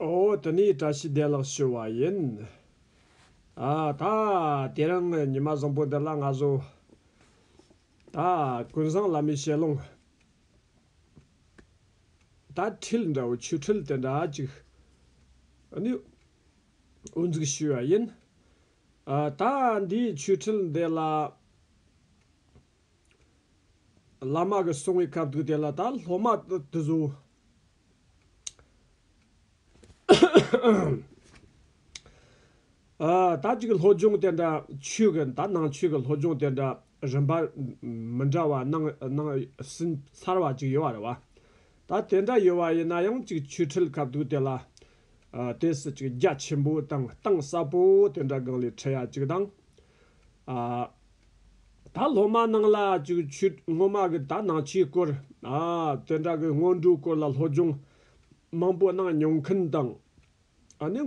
འོ་དེ་ནི་བཀྲ་ཤིས་བདེ་ལགས་ཞུ་བ་ཡིན། ཨ་ད་དེ་རིང་ཉི་མ་བཟང་པོ་འདི་ལ་ང་བཟོ། ད་ཀུན་བཟང་བླ་མའི་ཞལ་ལུང། ད་འཁྲིལ་འདྲ་བོ་ཆོས་འཁྲིལ་དེ་འདྲ་གཅིག་ནི་དབུ་འཛུགས་ཞུས་བ་ཡིན། ཨ་ད་འདིའི་ཆོས་འཁྲིལ་འདི་ལ། བླ་མ་གི་གསུང་གི་སྐབས་འདུག་དེ་ལ་ད་སློབ་མ་དུ་གཟུགས། ད་ཅིག་སློབ་སྦྱོང་དེ་འདྲ་ཆོས་གི་ད་ནང་ཆོས་གི་སློབ་སྦྱོང་དེ་འདྲ་རིམ་པ་མི་འདྲ་བ་གནང་གནང་ཟིན་ཚར་བ་ཅིག་ཡོད་བ་རེད་བ། ད་དེ་འདྲ་ཡོད་བ་ཡིན་ན་ཡང་ཅིག་ཆོས་ཁྲིད་སྐབས་འདུག་དེ་ལ། དེ་སྲིད་ཅིག་རྒྱ་ཆེན་པོ་དང་གཏིང་ཟབ་པོ་དེ་འདྲ་གང་ལས་ཁྲིད་ཡ་ཅིག་དང། ད་སློབ་མ་རྣམས་ལ་ཅིག་ཆོད་སྔོན་མ་གི་དག་སྣང་ཆོས་སྐོར། དོན་དག་གི་སྔོན་འགྲོའི་སྐོར་ལ་སློབ་སྦྱོང་མང་པོ་གནང་མྱོང་མཁན་དང། ནི།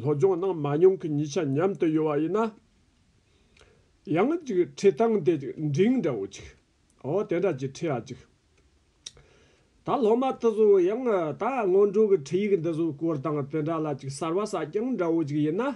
སློབ་སྦྱོང་གནང་མ་མྱོང་མཁན་གཉིས་ཆ་མཉམ་དུ་ཡོད་པ་ཡིན་ན། ཡང་ཅིག་ཁྲིད་སྟངས་དེ་ཅིག་འབྲིང་འདྲ་བོ་ཅིག། འོ་དེ་འདྲ་ཅིག་ཁྲིད་ཨ་ཅིག། ད་སློབ་མ་དེ་ཚོ་ཡང་ད་སྔོན་འགྲོ་གི་ཁྲིད་ཡིག་འདི་ཚོ་སྐོར་དང་དེ་འདྲ་ལ་ཅིག་གསར་བ་གསར་རྐྱང་འདྲ་བོ་ཅིག་ཡིན་ན།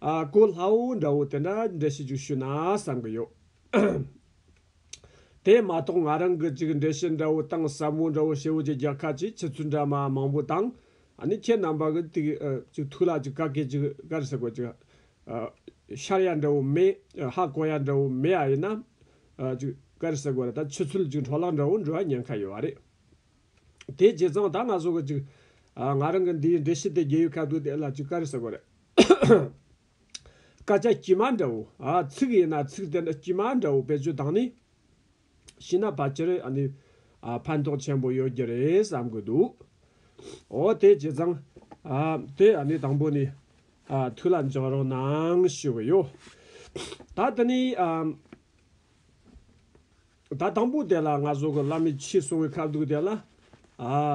ཨ་ཀོ་ལྷ་བོ་འདྲ་བོ་དེ་འདྲ་འབྲི་ཤེས་རྒྱུ་ཞུ་ན་བསམ་གི་ཡོད། དེ་མ་གཏོགས་ང་རང་གི་ཅིག་འབྲི་ཤེས་འདྲ་བོ་དང་ཟབ་མོ་འདྲ་བོ་ཞེ་བོ་ཅིག་རྒྱལ་ཁ་ཅིག་ཕྱི་ཚུལ་འདྲ་མ་མང་པོ་དང་ནི་ཁྱེད་རྣམ་པ་གི་ཏིག་ཅིག་ཐུགས་ལ་ཅིག་བཀའ་ཁེ་ཅིག་གར་ཟེར་དགོས་ཅིག་ཤར་ཡ་འདྲ་བོ་མེད་ཧ་ཀོ་ཡ་འདྲ་བོ་མེད་ཨ་ཡིན་ན་ཅིག་གར་ཟེར་དགོས་ར་ད་ཕྱི་ཚུལ་ཅིག་འཕྲོ་བརླག་འདྲ་བོ་འབྲི་བ་ཉན་ཁ་ཡོད་རེད། དེའི་རྗེས་ཙང་ད་ང་སུ་གི་ཅིག། ང་རང་གི་འདིའི་འདྲེ་ཤི་དེ་རྒྱལ་ཡུལ་ཁ་བསྡུ་དེ་ལ་ཅིག་ཀ་རི་ཟེར་གོ་རེད། སྐད་ཆ་དཀྱུས་མ་འདྲ་བོ། ཚིག་ཡིན་ན་ཚིག་དེ་འདྲ་དཀྱུས་མ་འདྲ་བོ་བེད་སྤྱོད་དང་ནི། ཤི་ན་ཕལ་ཆེར་ཨ་ནི། ཕན་ཐོག་ཆེན་པོ་ཡོད་རྒྱུ་རེད་བསམ་དགོས་འདུག། འོ་དེའི་རྗེས་ཙང། དེ་ཨ་ནི་དང་པོ་ནི། དུས་ལ་འཇོག་རོགས་གནང་ཞུ་གི་ཡོད། ད་དེ་ནི། ད་དང་པོ་དེ་ལ་ང་བཟོ་གི་བླ་མའི་ཕྱིས་སོང་བའི་ཁ་བསྡུག་དེ་ལ།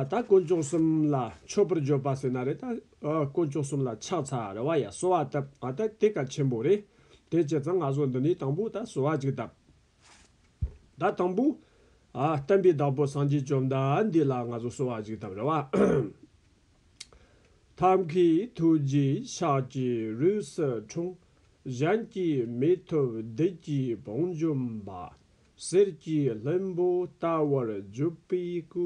ད་དཀོན་ཅོག་གསུམ་ལ་མཆོད་པར་འཇོག་པ་ཟེར་ན་རེད་ད། དཀོན་ཅོག་གསུམ་ལ་ཕྱག་འཚལ་རེ་བ་ཡ་གསོལ་བ་བཏབ་ང་ད་དེ་ཀ་ཆེན་པོ་རེད། དེ་བྱས་ཙང་ང་བཟོ་འདི་ནས་དང་པོ་ད་གསོལ་བ་ཅིག་བཏབ། ད་དང་པོ། བསྟན་པའི་བདག་པོ་སངས་རྒྱས་བཅོམ་ལྡན་འདས་ལ་ང་བཟོ་གསོལ་བ་ཅིག་བཏབ་རེ་བ། ཐབས་ཀྱི་ཐུགས་རྗེས་ཕྱག་གི་རུས་སུ་འཁྲུངས། གཞན་གྱིས་མི་ཐུབ་བདུད་ཀྱི་བང་འཇོམས་པ། གསེར་གྱི་ལྷུན་པོ་ལྟ་བུར་བརྒྱུད་པའི་སྐུ།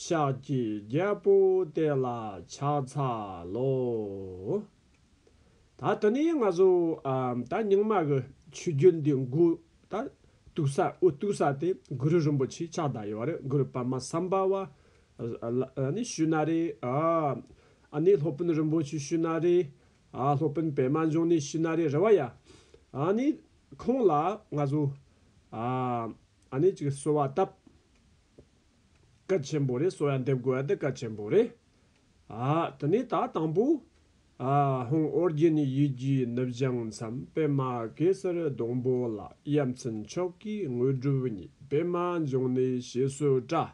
ཤཱཀ་གི་རྒྱལ་པོ་དེ་ལ་ཕྱག་འཚལ་ལོ། ད་དེ་ནས་ང་ཚོས་ད་རྙིང་མ་གི་ཆོས་བརྒྱུད་འདི་འགོ་ད་གཏུགས་ས་དབུ་གཏུགས་ས་དེ་གུ་རུ་རིན་པོ་ཆེའི་ཕྱག་བདག་ཡོད་པ་རེད་གུ་རུ་པདྨ་སམྦྷ་བ་ཨཱ་ནི་ཤུ་ན་རེ། ཨཱ་ནི་སློབ་དཔོན་རིན་པོ་ཆེ་ཤུ་ན་རེ། ཨཱ་སློབ་དཔོན་པད་མ་འབྱུང་གནས་ཤུ་ན་རེ་རེ་བ་ཡ། ཨཱ་ནི་ཁོང་ལ་ང་ཚོ། ཨཱ་ནི་ཅིག་གསོལ་བ་བཏབ། སྐད་ཆེན་པོ་རེ་གསོལ་བ་འདེབས་དགོས་པ་འདི་སྐད་ཆེན་པོ་རེད། ཨཱ་དེ་ནས་ད་དང་པོ། ཨཱ་ཧོང་ཨོ་རྒྱན་ནི་ཡིད་ཀྱི་ནུབ་བྱང་མཚམས་པད་མ་གེ་སར་སྡོང་པོ་ལ་དབྱར་མཚན་མཆོག་གི་དངོས་གྲུབ་ཉིད་པད་མ་འབྱུང་གནས་ཞེས་གསོལ་བཀྲ།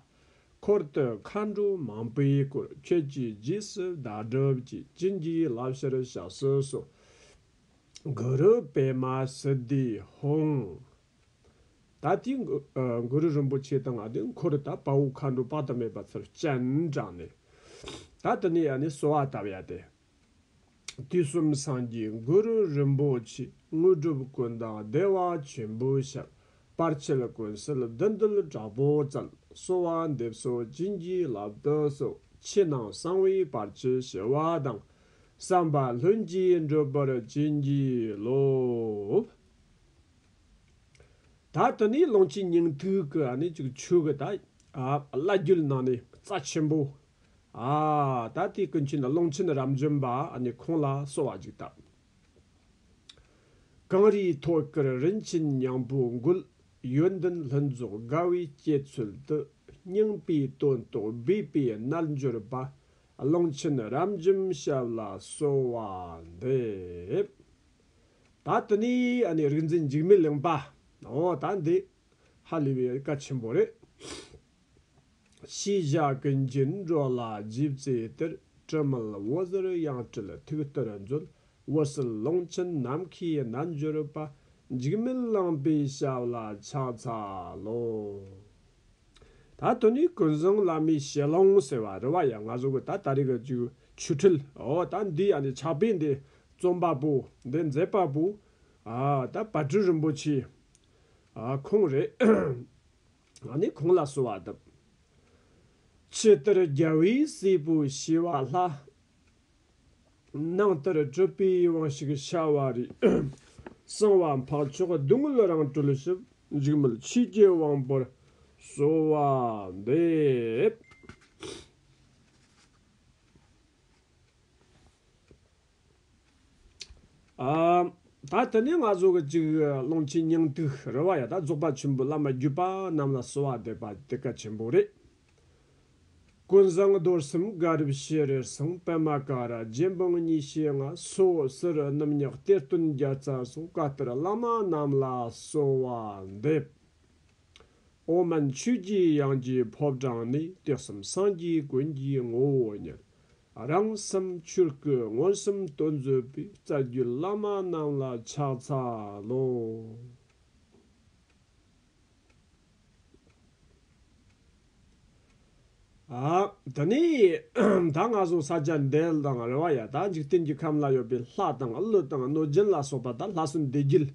འཁོར་བསྟོད་མཁའ་འགྲོ་མང་པོའི་སྐུ། ཁྱོད་ཀྱིས་རྗེས་སུ་བདག་སྒྲུབ་ཀྱིས། བྱིན་གྱིས་བརླབས་ཕྱིར་བྱ་གསོལ་གསོལ། གུ་རུ་པདྨ་སིདྡྷི་ཧོང། ད་ལྟའི་གུ་རུ་རིན་པོ་ཆེ་དང་ལྔ་སྟེ་འཁོར་དང་དཔའ་བོ་མཁའ་འགྲོ་དཔག་ཏུ་མེད་པ་ཚུར་སྤྱན་དྲངས་ནས། ད་དེ་ནས་ཡང་ནི་གསོལ་བ་བཏབ་ཡ་སྟེ། དུས་གསུམ་སངས་རྒྱས་གུ་རུ་རིན་པོ་ཆེ་དངོས་གྲུབ་ཀུན་བདག་བདེ་བ་ཆེན་པོའི་ཞབས་པར་ཆེད་ཀུན་གསལ་བདུད་འདུལ་དྲག་པོ་རྩལ་གསོལ་བ་འདེབས་སོ་བྱིན་གྱིས་བརླབས་དུ་གསོལ་ཕྱི་ནང་གསང་བའི་བར་ཆད་བྱེ་བ་དང་བསམ་པ་ལྷུན་གྱིས་འགྲུབ་པར་བྱིན་གྱིས་རློབས། ད་དུ་ནི་ལོངས་སྤྱོད་སྙིང་ཐིག་གི་བླ་རྒྱུད་ནང་ནས་རྩ་ཆེན་པོ་ཨ། ད་དེའི་ཀུན་མཁྱེན་ཀློང་ཆེན་རབ་འབྱམས་པ་ནི་ཁོང་ལ་གསོལ་བ་འཇུག་སྟབས། གངས་རིའི་ཐོད་དཀར་རིན་ཆེན་སྙིང་པོའི་མགུལ། ཡོན་ཏན་ལྷུན་རྫོགས་དགའ་བའི་སྐྱེད་ཚུལ་དུ། སྙིང་པོའི་དོན་རྟོགས་སྦས་པའི་རྣལ་འབྱོར་པ། ཀློང་ཆེན་རབ་འབྱམས་ཞབས་ལ་གསོལ་བ་འདེབས། ད་དེ་ནས་རིག་འཛིན་འཇིགས་མེད་གླིང་པའོ། ད་འདི་ཧ་ལས་པའི་བཀའ་ཆེན་པོ་རེད། ཤེས་བྱ་ཀུན་གྱི་འགྲོ་ལ་རྗེས་བརྩེའི་གཏེར། དྲི་མེད་འོད་ཟེར་དབྱངས་སྤྲུལ་ཐུགས་གཏེར་མཛོད། འོད་གསལ་ཀློང་ཆེན་ནམ་མཁའི་རྣལ་འབྱོར་པ། འཇིགས་མེད་བླངས་པའི་ཞབས་ལ་ཕྱག་འཚལ་ལོ། ད་དུང་ནི་ཀུན་བཟང་བླ་མའི་ཞལ་ལུང་ཟེར་བ་རུ་བ་ཡང་ང་ཟུག་ད་ལྟ་རིག་གི་རྒྱུ་ཆུ་འཁྲུལ། ཨོ་ད་འདི་ཡང་ནི་ཕྱག་དཔེ་འདི་རྩོམ་པ་པོ་འདི་མཛད་པ་པོ། ད་བ་སྤྲུལ་རིན་པོ་ཆེའི་ཁུངས་རེད། ང་ནི་གང་ལ་གསོལ་བ་འདེབས། ཕྱི་ལྟར་རྒྱལ་བའི་སྲས་པོ་ཞི་བ་ལྷ། ནང་ལྟར་སྤྲུལ་པའི་དབང་ཞིག་བྱ་བ་རི། གསང་བ་འཕགས་མཆོག་བསྡུ་དངོས་རང་གྲོལ་ཞིབ། འཇིགས་མེད་ཆོས་ཀྱི་དབང་པོར་གསོལ་བ་འདེབས། ད་དེ་ནས་ང་ཚོ་གཅིག་ཀློང་ཆེན་སྙིང་ཏིག་རོལ་བ་ཡང་དག་རྫོགས་པ་ཆེན་པོའི་བླ་མ་བརྒྱུད་པ་རྣམས་ལ་གསོལ་བ་འདེབས་པ་དེ་གལ་ཆེན་པོ་རེད། ཀུན་བཟང་རྡོར་སེམས་དགའ་རབ་ཤེས་རེར་སངས་པདྨ་ཀ་ར་རྗེ་འབངས་གཉིས་ཤེས་ལྔ་སོ་སོར་རྣམ་གཉགས་གཏེར་སྟོན་བརྒྱ་རྩ་སོགས་བཀའ་གཏེར་བླ་མ་རྣམས་ལ་གསོལ་བ་འདེབས། ཨོ་མན་ཆོས་རྗེའི་དབྱངས་ཀྱི་ཕོ་བྲང་ནས་ཏེ་གསུམ་སངས་རྒྱས་ཀུན་གྱི་ངོ་བོ་ཉིད། རང་སེམས་ཆོས་སྐུས་མངོན་སུམ་བསྟོད་མཛོད་པའི་རྩ་རྒྱུད་བླ་མ་རྣམས་ལ་ཕྱག་འཚལ་ལོ། དེ་ནས་ད་སྔ་བཟུང་ས་བཅད་འདེད་དང་རེ་བ་ཡང་དག་འཇིག་རྟེན་གྱི་ཁམས་ལ་ཡོད་པའི་ལྷ་དང་ཀླུ་དང་གནོད་སྦྱིན་ལ་སོགས་པ་དག་ལྷ་སྲུང་བདེ་སྐྱིད་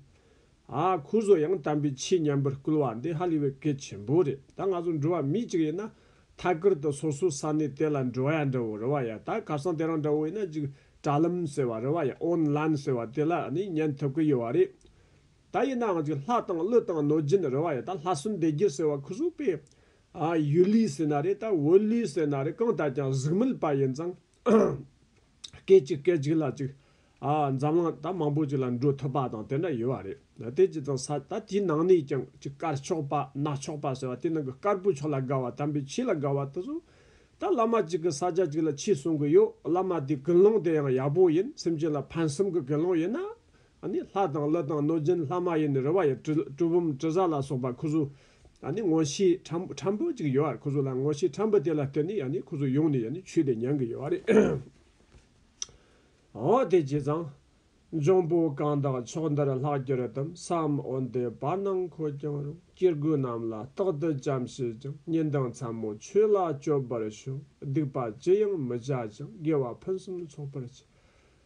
ཨ་ཁུ་བཟོ་ཡང་དམ་པའི་ཆོས་ཉམས་པར་བསྐུལ་བ་འདི་ཧ་ལས་པའི་གལ་ཆེན་པོ་རེད་ད་ང་ཚོ་འགྲོ་བ་མི་གཅིག་ཡིན་ན་ཐད་ཀར་དུ་སོ་སོའི་ས་གནས་དེ་ལ་འགྲོ་ཡ་འདྲ་བོ་རེ་བ་ཡ་ད་ཁ་སང་དེ་རང་འདྲ་བོ་ཡིན་ན་ཅིག་དྲ་ལམ་ཟེར་བ་རེ་བ་ཡ་ཨོན་ལན་ཟེར་བ་དེ་ལ་ནི་ཉན་ཐུབ་ཀི་ཡོད་བ་རེད་ད་ཡིན་ནའང་ཅིག་ལྷ་དང་ཀླུ་དང་གནོད་སྦྱིན་རེ་བ་ཡ་ད་ལྷ་སྲུན་སྡེ་བརྒྱད་ཟེར་བ་ཁུ་སུ་པས་ཨ་ཡུལ་ལུས་ཟེར་ན་རེད་ད་འོལ་ལུས་ཟེར་ན་རེད་གང་ལྟར་ཀྱང་གཟུགས་མེད་པ་ཡིན་ཙང། སྐད་ཅིག་སྐད་ཅིག་ལ་ཅིག། འཛམ་གླིང་ད་མང་པོ་ཅིག་ལ་འགྲོ་ཐུབ་པ་དང་དེ་འདྲ་ཡོད་བ་རེད། དེ་ཅི་དང་ས་ད་དེའི་ནང་ནས་ཀྱང་ཅིག་དཀར་ཕྱོགས་པ་ནག་ཕྱོགས་པ་ཟེར་བ་དེ་ནང་གི་དཀར་པོའི་ཕྱོགས་ལ་དགའ་བ་དམ་པའི་ཆོས་ལ་དགའ་བ་དེ་ཚོ། ད་བླ་མ་ཅིག་གི་ས་ཆ་ཅིག་ལ་ཕྱིས་གསུང་གི་ཡོད་བླ་མ་དེའི་དགེ་སློང་དེ་ཡང་ཡག་པོ་ཡིན་སེམས་ཅན་ལ་ཕན་སེམས་ཀྱི་དགེ་སློང་ཡིན་ན། ནི་ལྷ་དང་ཀླུ་དང་གནོད་སྦྱིན་ལྷ་མ་ཡིན་རུ་བ་ཡི་གྲུལ་བུམ་དྲི་ཟ་ལ་སོགས་པ་ཁུ་ཟུ། ནི་ངོ་ཤེས་ཁྲམ་བུ་གཅིག་ཡོད་བར་ཁུ་ཟུ་ལ་ངོ་ཤེས་ཁྲམ་བུ་དེ་ལ་བསྟོད་ནས་ནི་ཁུ་ཟུ་ཡོངས་ནས་ཆུད་དེ་མྱང་གི་ཡོད་བ་རེད། འོ་དེ་ཇི་ཙང། འབྱུང་པོ་གང་དག་ཕྱོགས་འདིར་ལྷགས་གྱུར་ཏམ་བསམ་འོན་ཏེ་བར་སྣང་འཁོར་ཀྱང་རུང་སྐྱེ་རྒུ་རྣམས་ལ་རྟག་ཏུ་བྱམས་བྱེད་ཅིང་ཉེས་འདང་ཚད་མོ་ཆོས་ལ་སྤྱོད་པར་ཞུ། སྡིག་པ་ཅི་ཡང་མི་བྱ་ཅིང་དགེ་བ་ཕུན་སུམ་ཚོགས་པར་བྱེད།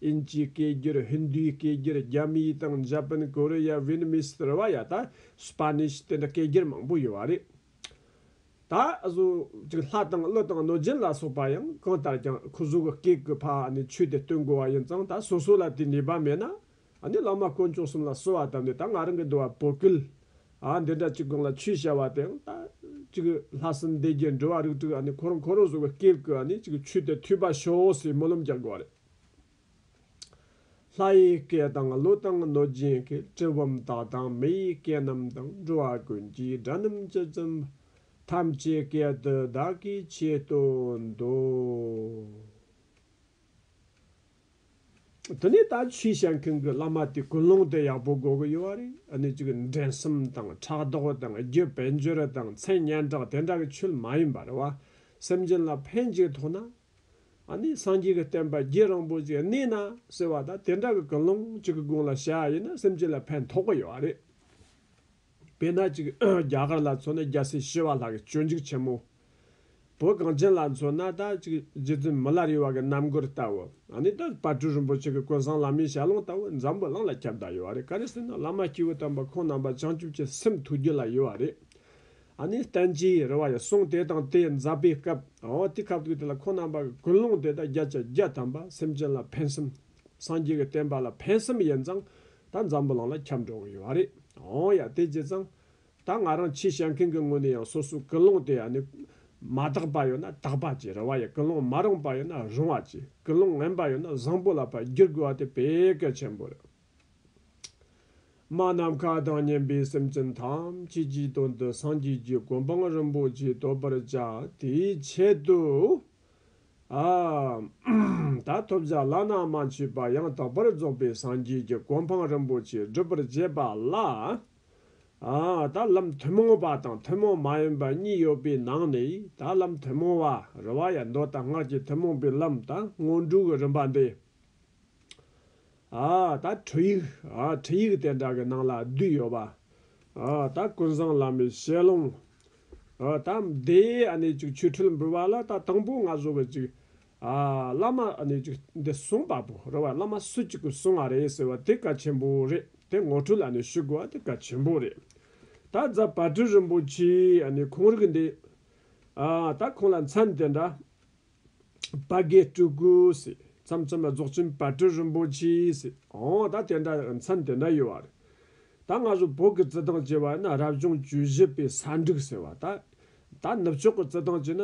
དབྱིན་ཇིའི་སྐད་སྒྱུར་ཧིན་རྡུའི་སྐད་སྒྱུར་རྒྱ་མིའི་དང་འཇའ་པན་ཀོ་རི་ཡ་བྷི་ནི་མི་སི་རི་བ་ཡ་ད་སི་པ་ནི་ཤི་དེ་འདྲ་སྐད་སྒྱུར་མང་པོ་ཡོད་བ་རེད། ད་གཟོད་ཅིག་ལྷ་དང་ཀླུ་དང་གནོད་སྦྱིན་ལ་སོགས་པ་ཡང་གང་ལྟར་ཀྱང་ཁོ་ཟུག་གི་སྐད་ཀྱི་ཕ་ནི་ཆོས་དེ་སྟོན་དགོས་བ་ཡིན་ཙང་ད་སོ་སོ་ལ་དེའི་ནུས་པ་མེད་ན་ནི་བླ་མ་དཀོན་མཆོག་གསུམ་ལ་གསོལ་བ་བཏབ་ནས་ད་ང་རང་གི་འདུལ་བ་པོ་ཀུལ་ཨ་འདི་འདྲ་ཅིག་གང་ལ་ཆོས་བྱ་བ་དེ་ཡང་ད་ཅིག་ལྷ་སྲིན་སྡེ་བརྒྱད་འགྲོ་བ་རིགས་དྲུག་ཁོ་རང་ཁོ་རང་ཟུག་གི་སྐད་ཀྱི་ནི་ཅིག་ཆོས་དེ་ཐོས་པ་ཤོག་ཟེར་སྨོན་ལམ་རྒྱག་དགོས་བ་རེད། ལྷ་ཡི་སྐད་དང་གླུ་དང་གནོད་སྦྱིན་གྱི་གྲི་བུམ་དག་དང་མི་ཡི་སྐད་རྣམས་དང་འགྲོ་བ་ཀུན་གྱི་སྒྲ་རྣམས་ཀྱིས་བཙུན་པ་ཐམས་ཅད་སྐད་དུ་བདག་གིས་བྱེད་དུ་འདོད། དེ་ནས་ད་ཆུའི་ཞལ་ཁང་གི་བླ་མ་དེ་ཀུན་སློང་དེ་ཡག་པོ་དགོས་ཀྱི་ཡོད་བ་རེད་ཨ་ནི་ཅིག་འགྲན་གསུམ་དང་ཕྲག་དོག་དང་རྒྱུད་བེད་འབྱོར་དང་མཚན་སྙན་གྲགས་དེ་འདྲ་གི་ཆོས་མ་ཡིན་པར་བ་སེམས་ཅན་ལ་ཕན་གཅིག་ཐོག་ན་ཨ་ནི་སངས་རྒྱས་ཀྱི་བསྟན་པ་རྒྱས་རིང་པོ་ཅིག་གནས་ན་ཟེར་བ་དང་དེ་འདྲ་གི་ཀུན་སློང་གཅིག་གི་དགོངས་ལ་བྱ་བ་ཡིན་ན་སེམས་ཅན་ལ་ཕན་ཐོགས་ཀྱི་ཡོད་བ་རེད། དཔེར་ན་ཅིག་རྒྱ་གར་ལ་མཚོན་ན་རྒྱལ་སྲས་ཞི་བ་ལྷ་གི་སྤྱོད་འཇུག་ཆེན་མོ། བོད་གངས་ཅན་ལ་མཚོན་ན་ད་ཅིག་རྗེ་བཙུན་མི་ལར་ཡོད་བ་གི་རྣམ་མགུར་ལྟ་བུ། ཨ་ནི་ད་བར་སྤྲུལ་རིན་པོ་ཆེ་གི་ཀུན་བཟང་བླ་མའི་ཞལ་ལུང་ལྟ་བུ་འཛམ་བུའི་གླིང་ལ་ཁྱབ་བདག་ཡོད་བ་རེད་ག་རེ་ཟེར་ན་བླ་མ་སྐྱེས་བུ་དམ་པ་ཁོང་རྣམ་པ་བྱང་ཆུབ་ཀྱི་སེམས་ཐུགས་རྒྱུད་ལ་ཡོད་བ་རེད། ཨ་ནི་བསྟན་གྱིས་རི་བ་ཡི་གསུང་དེ་དང་དེ་མཛད་པའི་སྐབས་འོ་དེ་ཁབ་ཐུག་དེ་ལ་ཁོང་རྣམ་པ་གི་ཀུན་སློང་དེ་དག་བརྒྱད་ཅུ་བརྒྱད་དམ་པ་སེམས་ཅན་ལ་ཕན་སེམས། སངས་རྒྱས་ཀྱི་བསྟན་པ་ལ་ཕན་སེམས་ཡིན་ཙང་ད་འཛམ་བུ་གླང་ལ་ཁྱབ་འགྲོ་གི་ཡོད་བ་རེད་འོ་ཡ་དེ་བྱས་ཙང་ད་ང་རང་ཆེས་བཤད་མཁན་གྱི་ངོས་ནས་ཡང་སོ་སོའི་ཀུན་སློང་དེ་ཨ་ནི་མ་དག་པ་ཡོད་ན་དག་པ་གྱིས་རི་བ་ཡི་ཀུན་སློང་མ་རུང་པ་ཡོད་ན་རུང་བ་གྱིས་ཀུན་སློང་ངན་པ་ཡོད་ན་བཟང་པོ་ལ་བར་བསྒྱུར་དགོས་བ་དེ་བེད་སྐལ་ཆེན་པོ་རེད། མ་ནམ་མཁའ་དང་མཉམ་པའི་སེམས་ཅན་ཐམས་ཅད་ཀྱི་དོན་དུ་སངས་རྒྱས་ཀྱི་སྒོམ་སྤང་རིན་པོ་ཆེ་བསྟོད་པར་བྱ། དེའི་ཆེད་དུ། ད་ཐོབ་བྱ་བླ་ན་མ་མཆིས་པ་ཡང་དག་པར་རྫོགས་པའི་སངས་རྒྱས་ཀྱི་སྒོམ་སྤང་རིན་པོ་ཆེ་སྒྲུབ་པར་བྱེད་པ་ལ། ད་ལམ་ཐུན་མོང་བ་དང་ཐུན་མོང་མ་ཡིན་པ་གཉིས་ཡོད་པའི་ནང་ནས་ད་ལམ་ཐུན་མོང་བ་རུ་བ་ཡི་མདོ་དང་སྔགས་ཀྱི་ཐུན་མོང་པའི་ལམ་དང་སྔོན་འགྲོའི་རིམ་པ་འདི། ད་ཁྲིད་ཡིག། ཁྲིད་ཡིག་དེ་འདྲ་གི་ནང་ལ་བསྡུས་ཡོད་པ། ད་ཀུན་བཟང་བླ་མའི་ཞལ་ལུང། ད་འདིའི་གནས་ཅིག་ཆོས་འཕྲུལ་འབུལ་བ་ལ་ད་དང་པོ་ང་བཟོ་བའི་ཅིག། བླ་མ་གནས་ཅིག་འདི་གསུངས་པ་པོ་རེད་བ་བླ་མ་སུ་གཅིག་གིས་གསུངས་བ་རེད་ཟེར་བ་དེ་གལ་ཆེན་པོ་རེད་དེ་ངོ་འཕྲོད་ལ་ནི་ཞུ་དགོས་བ་དེ་གལ་ཆེན་པོ་རེད། ད་རྫ་བར་དྲི་རིན་པོ་ཆེའི་གནས་ཁུངས་རིགས་འདི། ད་ཁོང་ལ་མཚན་དེ་འདྲ། དཔའ་བརྒྱད་སྤྲུལ་སྐུས། ཚམ་ཚོམ་ལ་རྫོགས་ཆེན་བར་དོའི་རིན་པོ་ཆེས། འོ་ད་དེ་འདྲ་མཚམས་དེ་འདྲ་ཡོད་བ་རེད། ད་སྔ་སོ་བོད་ཀྱི་རྩི་ཐང་ཅེས་པ་ཡིན་ན་རབ་བྱུང་བཅུ་བཞི་པའི་ས་འབྲུག་ཟེར་བ་ད། ད་ནུབ་ཕྱོགས་ཀྱི་རྩི་ཐང་ཅེས་ན།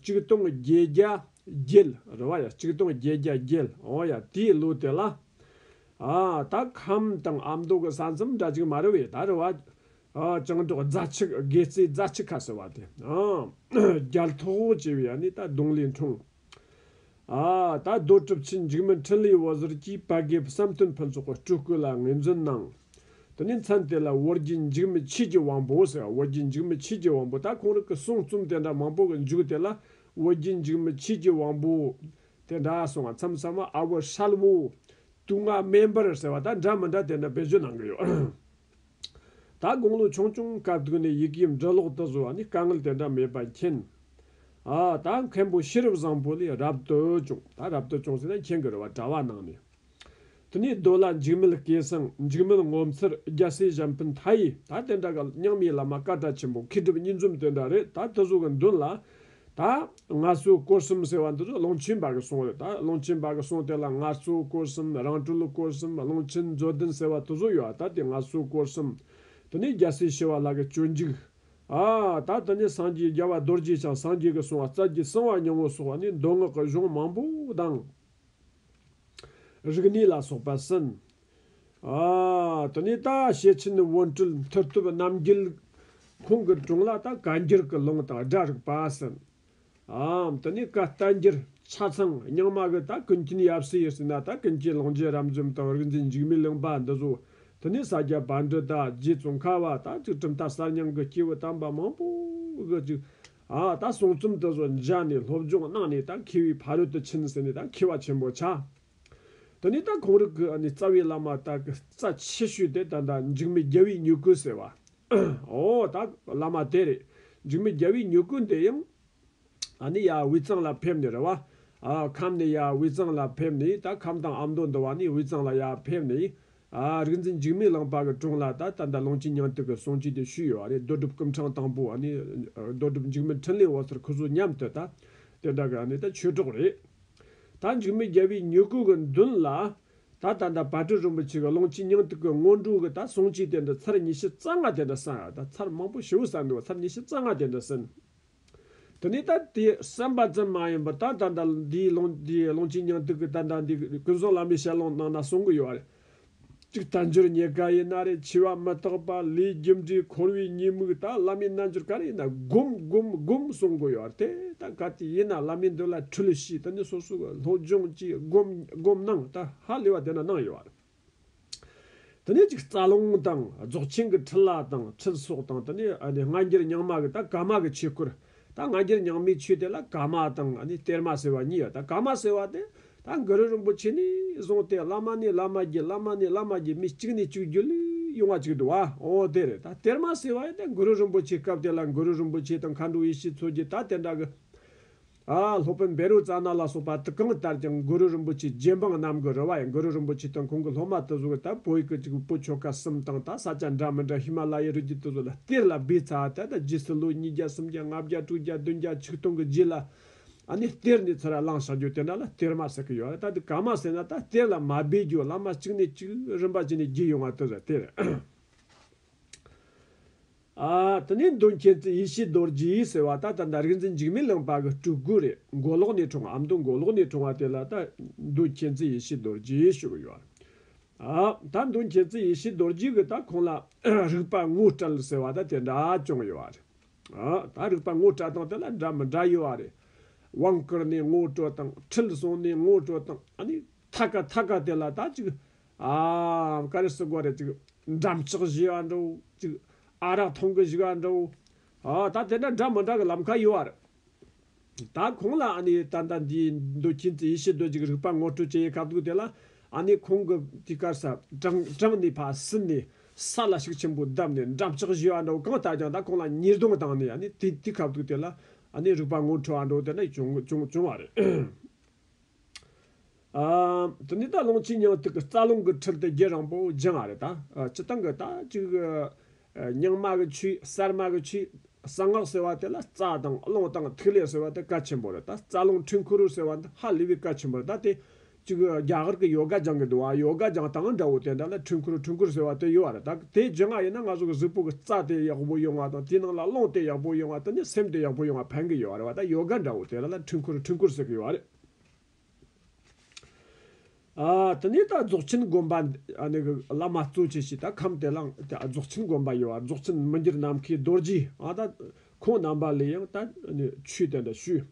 གཅིག་སྟོང་བརྒྱད་བརྒྱ་བརྒྱད། རེད་བ་ཡ་གཅིག་སྟོང་བརྒྱད་བརྒྱ་བརྒྱད། འོ་ཡ་དེའི་ལོ་དེ་ལ། ཨ། ད་ཁམས་དང་ཨ་མདོ་གི་ས་མཚམས་འདྲ་ཅིག་མ་རེད་བས་ད་རེད་བ། བྱང་ཕྱོགས་རྫ་ཆུ་དགེ་རྩེའི་རྫ་ཆུ་ཁ་ཟེར་བ་དེ། རྒྱལ་ཐོག་ཧོ་ཅེས་པའི་ཡ་ནི་ད་གདུང་ལས་འཁྲུངས། ད་གདུང་གྲུབ་ཆེན་འཇིགས་མེད་འཕྲིན་ལས་འོད་ཟེར་གྱིས་བལ་དགེ་བསམ་སྟོན་ཕུན་ཚོགས་སྤྲུལ་སྐུ་ལ་ངེས་འཛིན་གནང། དེ་ནས་མཚན་དེ་ལ་ཝུར་རྒྱལ་འཇིགས་མེད་ཆོས་ཀྱི་དབང་པོ་ཟེར་ཝུར་རྒྱལ་འཇིགས་མེད་ཆོས་ཀྱི་དབང་པོ་ད་ཁོང་རིགས་ཀྱི་གསུང་རྩོམ་དེ་འདྲ་མང་པོ་གི་མཇུག་དེ་ལ་ཝུར་རྒྱལ་འཇིགས་མེད་ཆོས་ཀྱི་དབང་པོ། དེ་འདྲ་གསུང་བ་མཚམས་གསར་མ་ཨ་བུ་ཧྲལ་བོ། དུག་ལྔ་སྨན་པར་ཟེར་བ་ད་འདྲ་མི་འདྲ་དེ་འདྲ་བེད་སྤྱོད་གནང་གི་ཡོད། ད་དགུང་ལོ་ཆུང་ཆུང་དཀའ་སྡུག་ནས་ཡི་གེའི་འབྲི་ཀློག་དུ་བཟོ་བ་ནི་དཀའ་ངལ་དེ་འདྲ་མེད་པ་མཁྱེན། ཨ་ད་མཁན་པོ་ཤེས་རབ་བཟང་པོ་ལས་རབ་ཏུ་ཅུང་ད་རབ་ཏུ་ཅུང་ཟེར་ན་མཁྱེན་གི་རེད་བ་གྲྭ་བ་ནང་ནས་དེ་ནས་རྡོ་ལ་འཇིགས་མེད་སྐལ་བཟང་འཇིགས་མེད་ངོ་མཚར་རྒྱལ་སྲས་གཞན་ཕན་མཐའ་ཡས་ད་དེ་འདྲ་ག་མཉམ་ཡས་བླ་མ་བཀའ་གྲྭ་ཆེན་པོ་མཁས་གྲུབ་གཉིས་འཛོམས་དེ་འདྲ་རེད་ད་དུ་བཟོ་གི་མདུན་ལ་ད་སྔ་གཙོ་སྐོར་གསུམ་ཟེར་བ་འདི་ཚོ་གླང་ཆེན་པ་གི་གསུང་རེད་ད་གླང་ཆེན་པ་གི་གསུང་དེ་ལ་ང་གཙོ་སྐོར་གསུམ་རང་སྤྲུལ་སྐོར་གསུམ་གླང་ཆེན་མཛོད་བདུན་ཟེར་བ་དེ་ཚོ་ཡོད་ད་དེ་ང་གཙོ་སྐོར་གསུམ་དེ་ནི་རྒྱལ་སྲས་བྱེ་བ་ལགས་ཀྱི་སྤྱོད་འཇུག་ཨ་ད་དེ་ནི་སངས་རྒྱས་རྒྱལ་བ་རྡོ་རྗེ་འཆང་སངས་རྒྱས་ཀྱི་གསུང་བ་རྩ་རྒྱུད་གསང་བ་ཉམས་འོད་སོགས་བ་ནི་མདོ་སྔགས་ཀྱི་གཞུང་མང་པོ་དང་རིག་གནས་ལ་སོགས་པ་ཟིན། དེ་ནས་ད་ཞལ་ཆེན་དབོན་སྤྲུལ་མཐུ་སྟོབས་རྣམ་རྒྱལ། ཁོང་གི་དྲུང་ལ་ད་ག་འགྱུར་གྱི་ལུང་དང་སྒྲ་རིག་པ་ཟིན། དེ་ནས་ཀ་རྟ་འགྱུར་ཆ་ཚང་རྙིང་མ་གི་ད་ཀུན་མཁྱེན་ཡབ་སྲས་ཡེ་སྲས་ན་ད་ཀུན་མཁྱེན་ལོངས་རྗེས་རབ་འཇོམས་དང་རིག་འཛིན་འཇིགས་མེད་གླིང་པ་འདི་བཟོ། དེ་ནས་ས་སྐྱ་བ་འདྲི་ད་རྗེ་བཙུན་ཁ་བ་ད་གཅིག་གྲུབ་མཐའ་གསར་རྙིང་གི་སྐྱེས་བུ་དམ་པ་མང་པོ་གི་གཅིག། ད་གསུང་རྩོམ་དུ་བཟོ་མཇལ་ནས་སློབ་སྦྱོང་གནང་ནས་ད་མཁས་བའི་ཕ་རོལ་ཏུ་ཕྱིན་ཟིན་ནས་ད་མཁས་བ་ཆེན་པོ་ཆ། དེ་ནས་ད་གོང་རིགས་ཀྱི་རྩ་བའི་བླ་མ་དག་གི་རྩ་ཆེ་ཤོས་དེ་ད་ད་འཇིགས་མེད་རྒྱལ་བའི་མྱུ་གུ་ཟེར་བ། ཨོ་ད་བླ་མ་དེ་རེད། འཇིགས་མེད་རྒྱལ་བའི་མྱུ་གུ་འདི་ཡང། ད་ནི་ཡ་དབུས་གཙང་ལ་ཕེབས་ནས་རེད་བ། ཁམས་ནས་ཡ་དབུས་གཙང་ལ་ཕེབས་ནས་ད་ཁམས་དང་ཨ་མདོ་འདི་བ་ནི་དབུས་གཙང་ལ་ཡ་ཕེབས་ནས། རིག་འཛིན་འཇིགས་མེད་གླིང་པ་གི་དྲུང་ལ་ད་ད་ད་ལོངས་སྤྱི་ཉང་སྟེགས་ཀྱི་གསུང་ཆོས་དེ་ཞུས་ཡོད་བ་རེད་རྡོ་གྲུབ་སྐུ་འཕྲང་དང་པོ་རྡོ་གྲུབ་འཇིགས་མེད་འཕྲིན་ལས་འོད་ཟེར་ཁུ་ཟུར་མཉམ་དུ་ད་དེ་དག་གི་ད་ཆོས་གྲོགས་རེད། ད་འཇིགས་མེད་རྒྱལ་བའི་མྱུ་གུ་གི་མདུན་ལ། ད་ད་ལྟ་བར་དོའི་རིན་པོ་ཆེ་གི་ཀློང་ཆེན་སྙིང་ཐིག་གི་སྔོན་འགྲོ་གི་ད་གསུང་ཆོས་དེ་འདྲ་ཚར་ཉི་ཤུ་རྩ་ལྔ་དེ་འདྲ་གསན་ད་ཚར་མང་པོ་ཞི་བོ་གསན་འདུག་ཚར་ཉི་ཤུ་རྩ་ལྔ་དེ་འདྲ་གསན། དེ་ནས་ད་དེ་གསན་པ་ཙམ་མ་ཡིན་པར་ད་ད་ལྟ་འདིའི་ཀློང་འདིའི་ཀློང་ཆེན་སྙིང་ཐིག་གི་ད་ད་འདི་ཀུན་བཟང་བླ་མའི་ཞལ་ལུང་གནང་ན་གསུང་གི་ཡོད་རེད། གཅིག་རྟ་མཆོད་ཉེ་དགའ་ཡིན་ན་རེ་འཆི་བ་མི་རྟག་པ་ལུས་རྒྱུ་འབྲས་འཁོར་བའི་ཉེས་དམིགས་དང་བླ་མའི་རྣལ་འབྱོར་ག་རེ་ཡིན་ན་བསྒོམ་བསྒོམ་བསྒོམ་གསུང་དགོས་ཡོད་རེད་དེ་ལྟ་ག་དུས་ཡིན་ན་བླ་མའི་མདུན་ལ་ཁྲུལ་བྱས་དེ་ནས་སོ་སོ་གི་སློབ་སྦྱོང་གྱིས་བསྒོམ་བསྒོམ་གནང་དེ་ཧ་ལས་པ་དེ་འདྲ་གནང་ཡོད་རེད། དེ་ནས་གཅིག་རྩ་རླུང་དང་རྫོགས་ཆེན་གྱི་ཁྲི་ལ་དང་ཁྲི་སོགས་དང་དེ་ནས་སྔ་འགྱུར་ཉང་མ་གི་དང་ཀ་མ་གི་ཆོས་སྐོར། ད་ང་རྒྱལ་ཉག་མའི་ཆོས་དེ་ལ་ག་མ་དང་གཏེར་མ་ཟེར་བ་གཉིས་ཡོད་ད་ག་མ་ཟེར་བ་དེ་ད་འགའ་རེ་རིན་པོ་ཆེ་ནས་བཟུང་སྟེ་བླ་མ་ནས་བླ་མ་བརྒྱད་བླ་མ་ནས་བླ་མ་བརྒྱད་མི་གཅིག་ནས་གཅིག་བརྒྱུད་ལུས་དབྱུང་བ་གཅིག་འདུག་བ་འོ་དེ་རེད་ད་གཏེར་མ་ཟེར་བ་ཡིན་ད་འགུ་རུ་རིན་པོ་ཆེའི་སྐབས་དེ་ལ་འགུ་རུ་རིན་པོ་ཆེ་དང་མཁའ་འགྲོ་ཡེ་ཤེས་མཚོ་རྒྱལ་ད་དེ་འདྲ་གི་ཨ་སློབ་དཔོན་བེ་རུ་ཙཱ་ན་ལ་སོགས་པ་དེ་གང་ལྟར་ཀྱང་འགུ་རུ་རིན་པོ་ཆེའི་རྗེ་འབངས་རྣམས་ཀྱི་རུ་བ་ཡིན་འགུ་རུ་རིན་པོ་ཆེ་དང་ཁོང་གི་སློབ་མ་དེ་ཚོ་གི་ད་བོད་ཡིག་གི་གཅིག་པུ་པོ་ཆོ་ག་གསུམ་དང་ད་ས་སྐྱ་འདྲ་མི་འདྲ་ཧི་མ་ལ་ཡའི་རི་རྒྱུད་དེ་ཚོ་ལ། གཏེར་ལ་སྦས་ཚར་ད་ལྟ་རྗེས་སུ་ལོ་ཉིས་བརྒྱ་སུམ་བརྒྱ་ལྔ་བརྒྱ་དྲུག་བརྒྱ་བདུན་བརྒྱ་ཆིག་སྟོང་གི་རྗེས་ལ་ནི་གཏེར་ནས་ཚུར་བླངས་བཞག་རྒྱུ་དེ་འདྲ་ལ་གཏེར་མ་ཟེར་གི་ཡོད་རེད་ད་དེ་ག་མ་ཟེར་ན་ད་གཏེར་ལ་མ་སྦས་རྒྱུ་བླ་མ་གཅིག་ནས་གཅིག་རིམ་པ་ཅི་ནས་བརྒྱུད་ཡོང་བ་དེ་རེད་དེ་རེད། ཨ་དེ་ནས་མདོ་མཁྱེན་བརྩེ་ཡེ་ཤེས་རྡོ་རྗེའི་ཟེར་བ་ད་ད་ད་རིག་འཛིན་འཇིགས་མེད་གླིང་པ་གི་སྤྲུལ་སྐུ་རེད་མགོ་ལོག་ནས་འཁྲུངས་ཨ་མདོ་མགོ་ལོག་ནས་འཁྲུངས་བ་དེ་ལ་ད་མདོ་མཁྱེན་བརྩེ་ཡེ་ཤེས་རྡོ་རྗེ་ཞུ་གི་ཡོད་ད་མདུན་མཁྱེན་བརྩེ་ཡེ་ཤེས་རྡོར་རྗེས་ཀྱི་ད་ཁོང་ལ་རིགས་པ་ངོ་སྤྲད་ཟེར་བ་ད་དེ་འདྲ་ཅུང་ཡོད་བ་རེད། ད་རིགས་པ་ངོ་སྤྲད་སྟངས་དེ་ལ་འདྲ་མི་འདྲ་ཡོད་བ་རེད། དབང་བསྐུར་ནས་ངོ་སྤྲོད་སྟངས་ཁྲིད་བཟུང་ནས་ངོ་སྤྲོད་སྟངས་ཨ་ནི་ཐ་ཀ་ཐ་ཀ་དེ་ལ་ད་ཅིག་ཨའམ་ཀ་རེ་སུ་དགོས་རེད་ཅིག་འགྲམ་ལྕག་བཞེས་བ་འདྲ་བོ་ཅིག་ཨ་རག་འཐུང་གི་བཞུགས་བ་འདྲ་བོ་ད་དེ་འདྲ་འདྲ་མི་འདྲ་གི་ལམ་ཁ་ཡོད་བ་རེད། ད་ཁོང་ལ་ཨ་ནི་ད་ལྟ་འདི་འདོད་ཀྱིན་དུ་ཡེ་ཤེས་རྡོ་རྗེ་གི་རིག་པ་ངོ་སྤྲོད་ཀྱིན་ཡོད་ཁ་ཐུག་དེ་ལ་ཨ་ནི་ཁོང་གི་དུས་སྐར་སར་དྲངས་ནས་ཕར་ཟིན་ནས་ས་ལ་ཤུགས་ཆེན་པོ་བརྡབས་ནས་འགྲམ་ལྕག་བཞི་བ་འདྲ་བོ་གང་བཏགས་ཀྱང་ད་ཁོང་ལ་ཉེས་རྡུང་བཏང་ནས་ཨ་ནི་དེ་དུས་ཁ་ཐུག་དེ་ལ་ཨ་ནི་རིག་པ་ངོ་འཕྲོད་བ་འདྲ་བོ་དེ་འདྲ་བྱུང་བ་རེད། དེ་ནས་ད་ལོངས་ཕྱི་ཉག་ཐིག་གི་རྩ་རླུང་གི་ཁྲིར་དེ་རྒྱུད་རིང་པོ་སྦྱིན་བ་རེད་ད། སྤྱི་བཏང་གི་ད་གཅིག། རྙིང་མ་གི་ཆུས་གསར་མ་གི་ཆུས། གསང་སྔགས་ཟེར་བ་དེ་ལ་རྩ་དང་རླུང་དང་ཐིག་ལེ་ཟེར་བ་དེ་སྐད་ཆེན་པོ་རེད་ད་རྩ་རླུང་ཁྲི་འཁོར་རུ་ཟེར་བ་འདི་ཧ་ལས་པའི་སྐད་ཆེན་པོ་རེད་ད་དེ། གཅིག་རྒྱ་གར་གྱི་ཡོ་ག་སྦྱང་གི་འདུག་ཨ་ཡོ་ག་སྦྱང་སྟངས་འདྲ་བོ་དེ་འདྲ་ལ་ཁྲི་འཁོར་ཁྲི་འཁོར་ཟེར་བ་དེ་ཡོད་རེད་ད། དེ་བརྗོད་ངག་ཡིན་ན་ང་ཚོ་གི་གཟུགས་པོ་གི་རྩ་དེ་ཡག་པོ་ཡོང་བ་དང་དེའི་ནང་ལ་རླུང་དེ་ཡག་པོ་ཡོང་བ་དང་ནི་སེམས་དེ་ཡག་པོ་ཡོང་བ་ཕན་གི་ཡོད་རེད་བ་ད་ཡོ་ག་འདྲ་བོ་དེ་ར་ལ་འཕྲུལ་འཁོར་འཕྲུལ་འཁོར་ཟེར་གི་ཡོད་རེད། ཨ་དེ་ནས་ད་རྫོགས་ཆེན་དགོན་པ་ཨ་ནི་གི་བླ་མ་གཙོ་བྱས་ཤིག་ད་ཁམས་དེ་ལ་རྫོགས་ཆེན་དགོན་པ་ཡོད་བ་རྫོགས་ཆེན་མི་འགྱུར་ནམ་མཁའི་རྡོ་རྗེ་ཨ་ད་ཁོང་རྣམ་པ་ལས་ཡང་ད་ནི་ཆོས་དེ་འདྲ་ཞུས།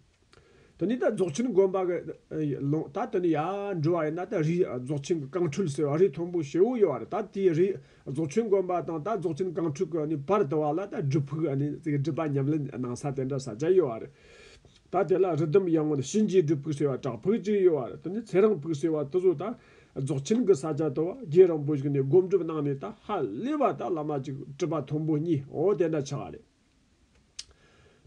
དེ་ནས་ད་རྫོགས་ཆེན་དགོན་པ་གི་ལུང་ད་དེ་ནས་ཡར་འགྲོ་བ་ཡིན་ན་ད་རི་རྫོགས་ཆེན་གི་རྐང་འཕྲུལ་ཟེར་བ་རི་མཐོན་པོ་ཞེ་བོ་ཡོད་བ་རེད་ད་དེའི་རི་རྫོགས་ཆེན་དགོན་པ་དང་ད་རྫོགས་ཆེན་རྐང་འཕྲུལ་གི་ནི་བར་དུ་བ་ལ་ད་སྒྲུབ་ཕུག་སྒྲུབ་པ་ཉམས་ལེན་གནང་ས་དེ་འདྲ་ས་ཆ་ཡོད་བ་རེད་ད་དེ་ལ་རི་ཟླུམ་ཡངས་བ་ནི་གཤིན་རྗེའི་སྒྲུབ་ཕུག་ཟེར་བ་བྲག་ཕུག་ཅིག་ཡོད་བ་རེད་དེ་ནས་ཚེ་རིང་ཕུག་ཟེར་བ་དེ་ཚོ་ད་རྫོགས་ཆེན་གི་ས་ཆ་དུ་བ་རྒྱལ་རིང་པོ་ཞིག་ནས་སྒོམ་སྒྲུབ་གནང་ནས་ད་ཧ་ལས་བ་ད་བླ་མ་ཅིག་སྤྲུལ་པ་མཐོན་པོ་གཉིས་འོ་དེ་འདྲ་ཆགས་བ་རེད།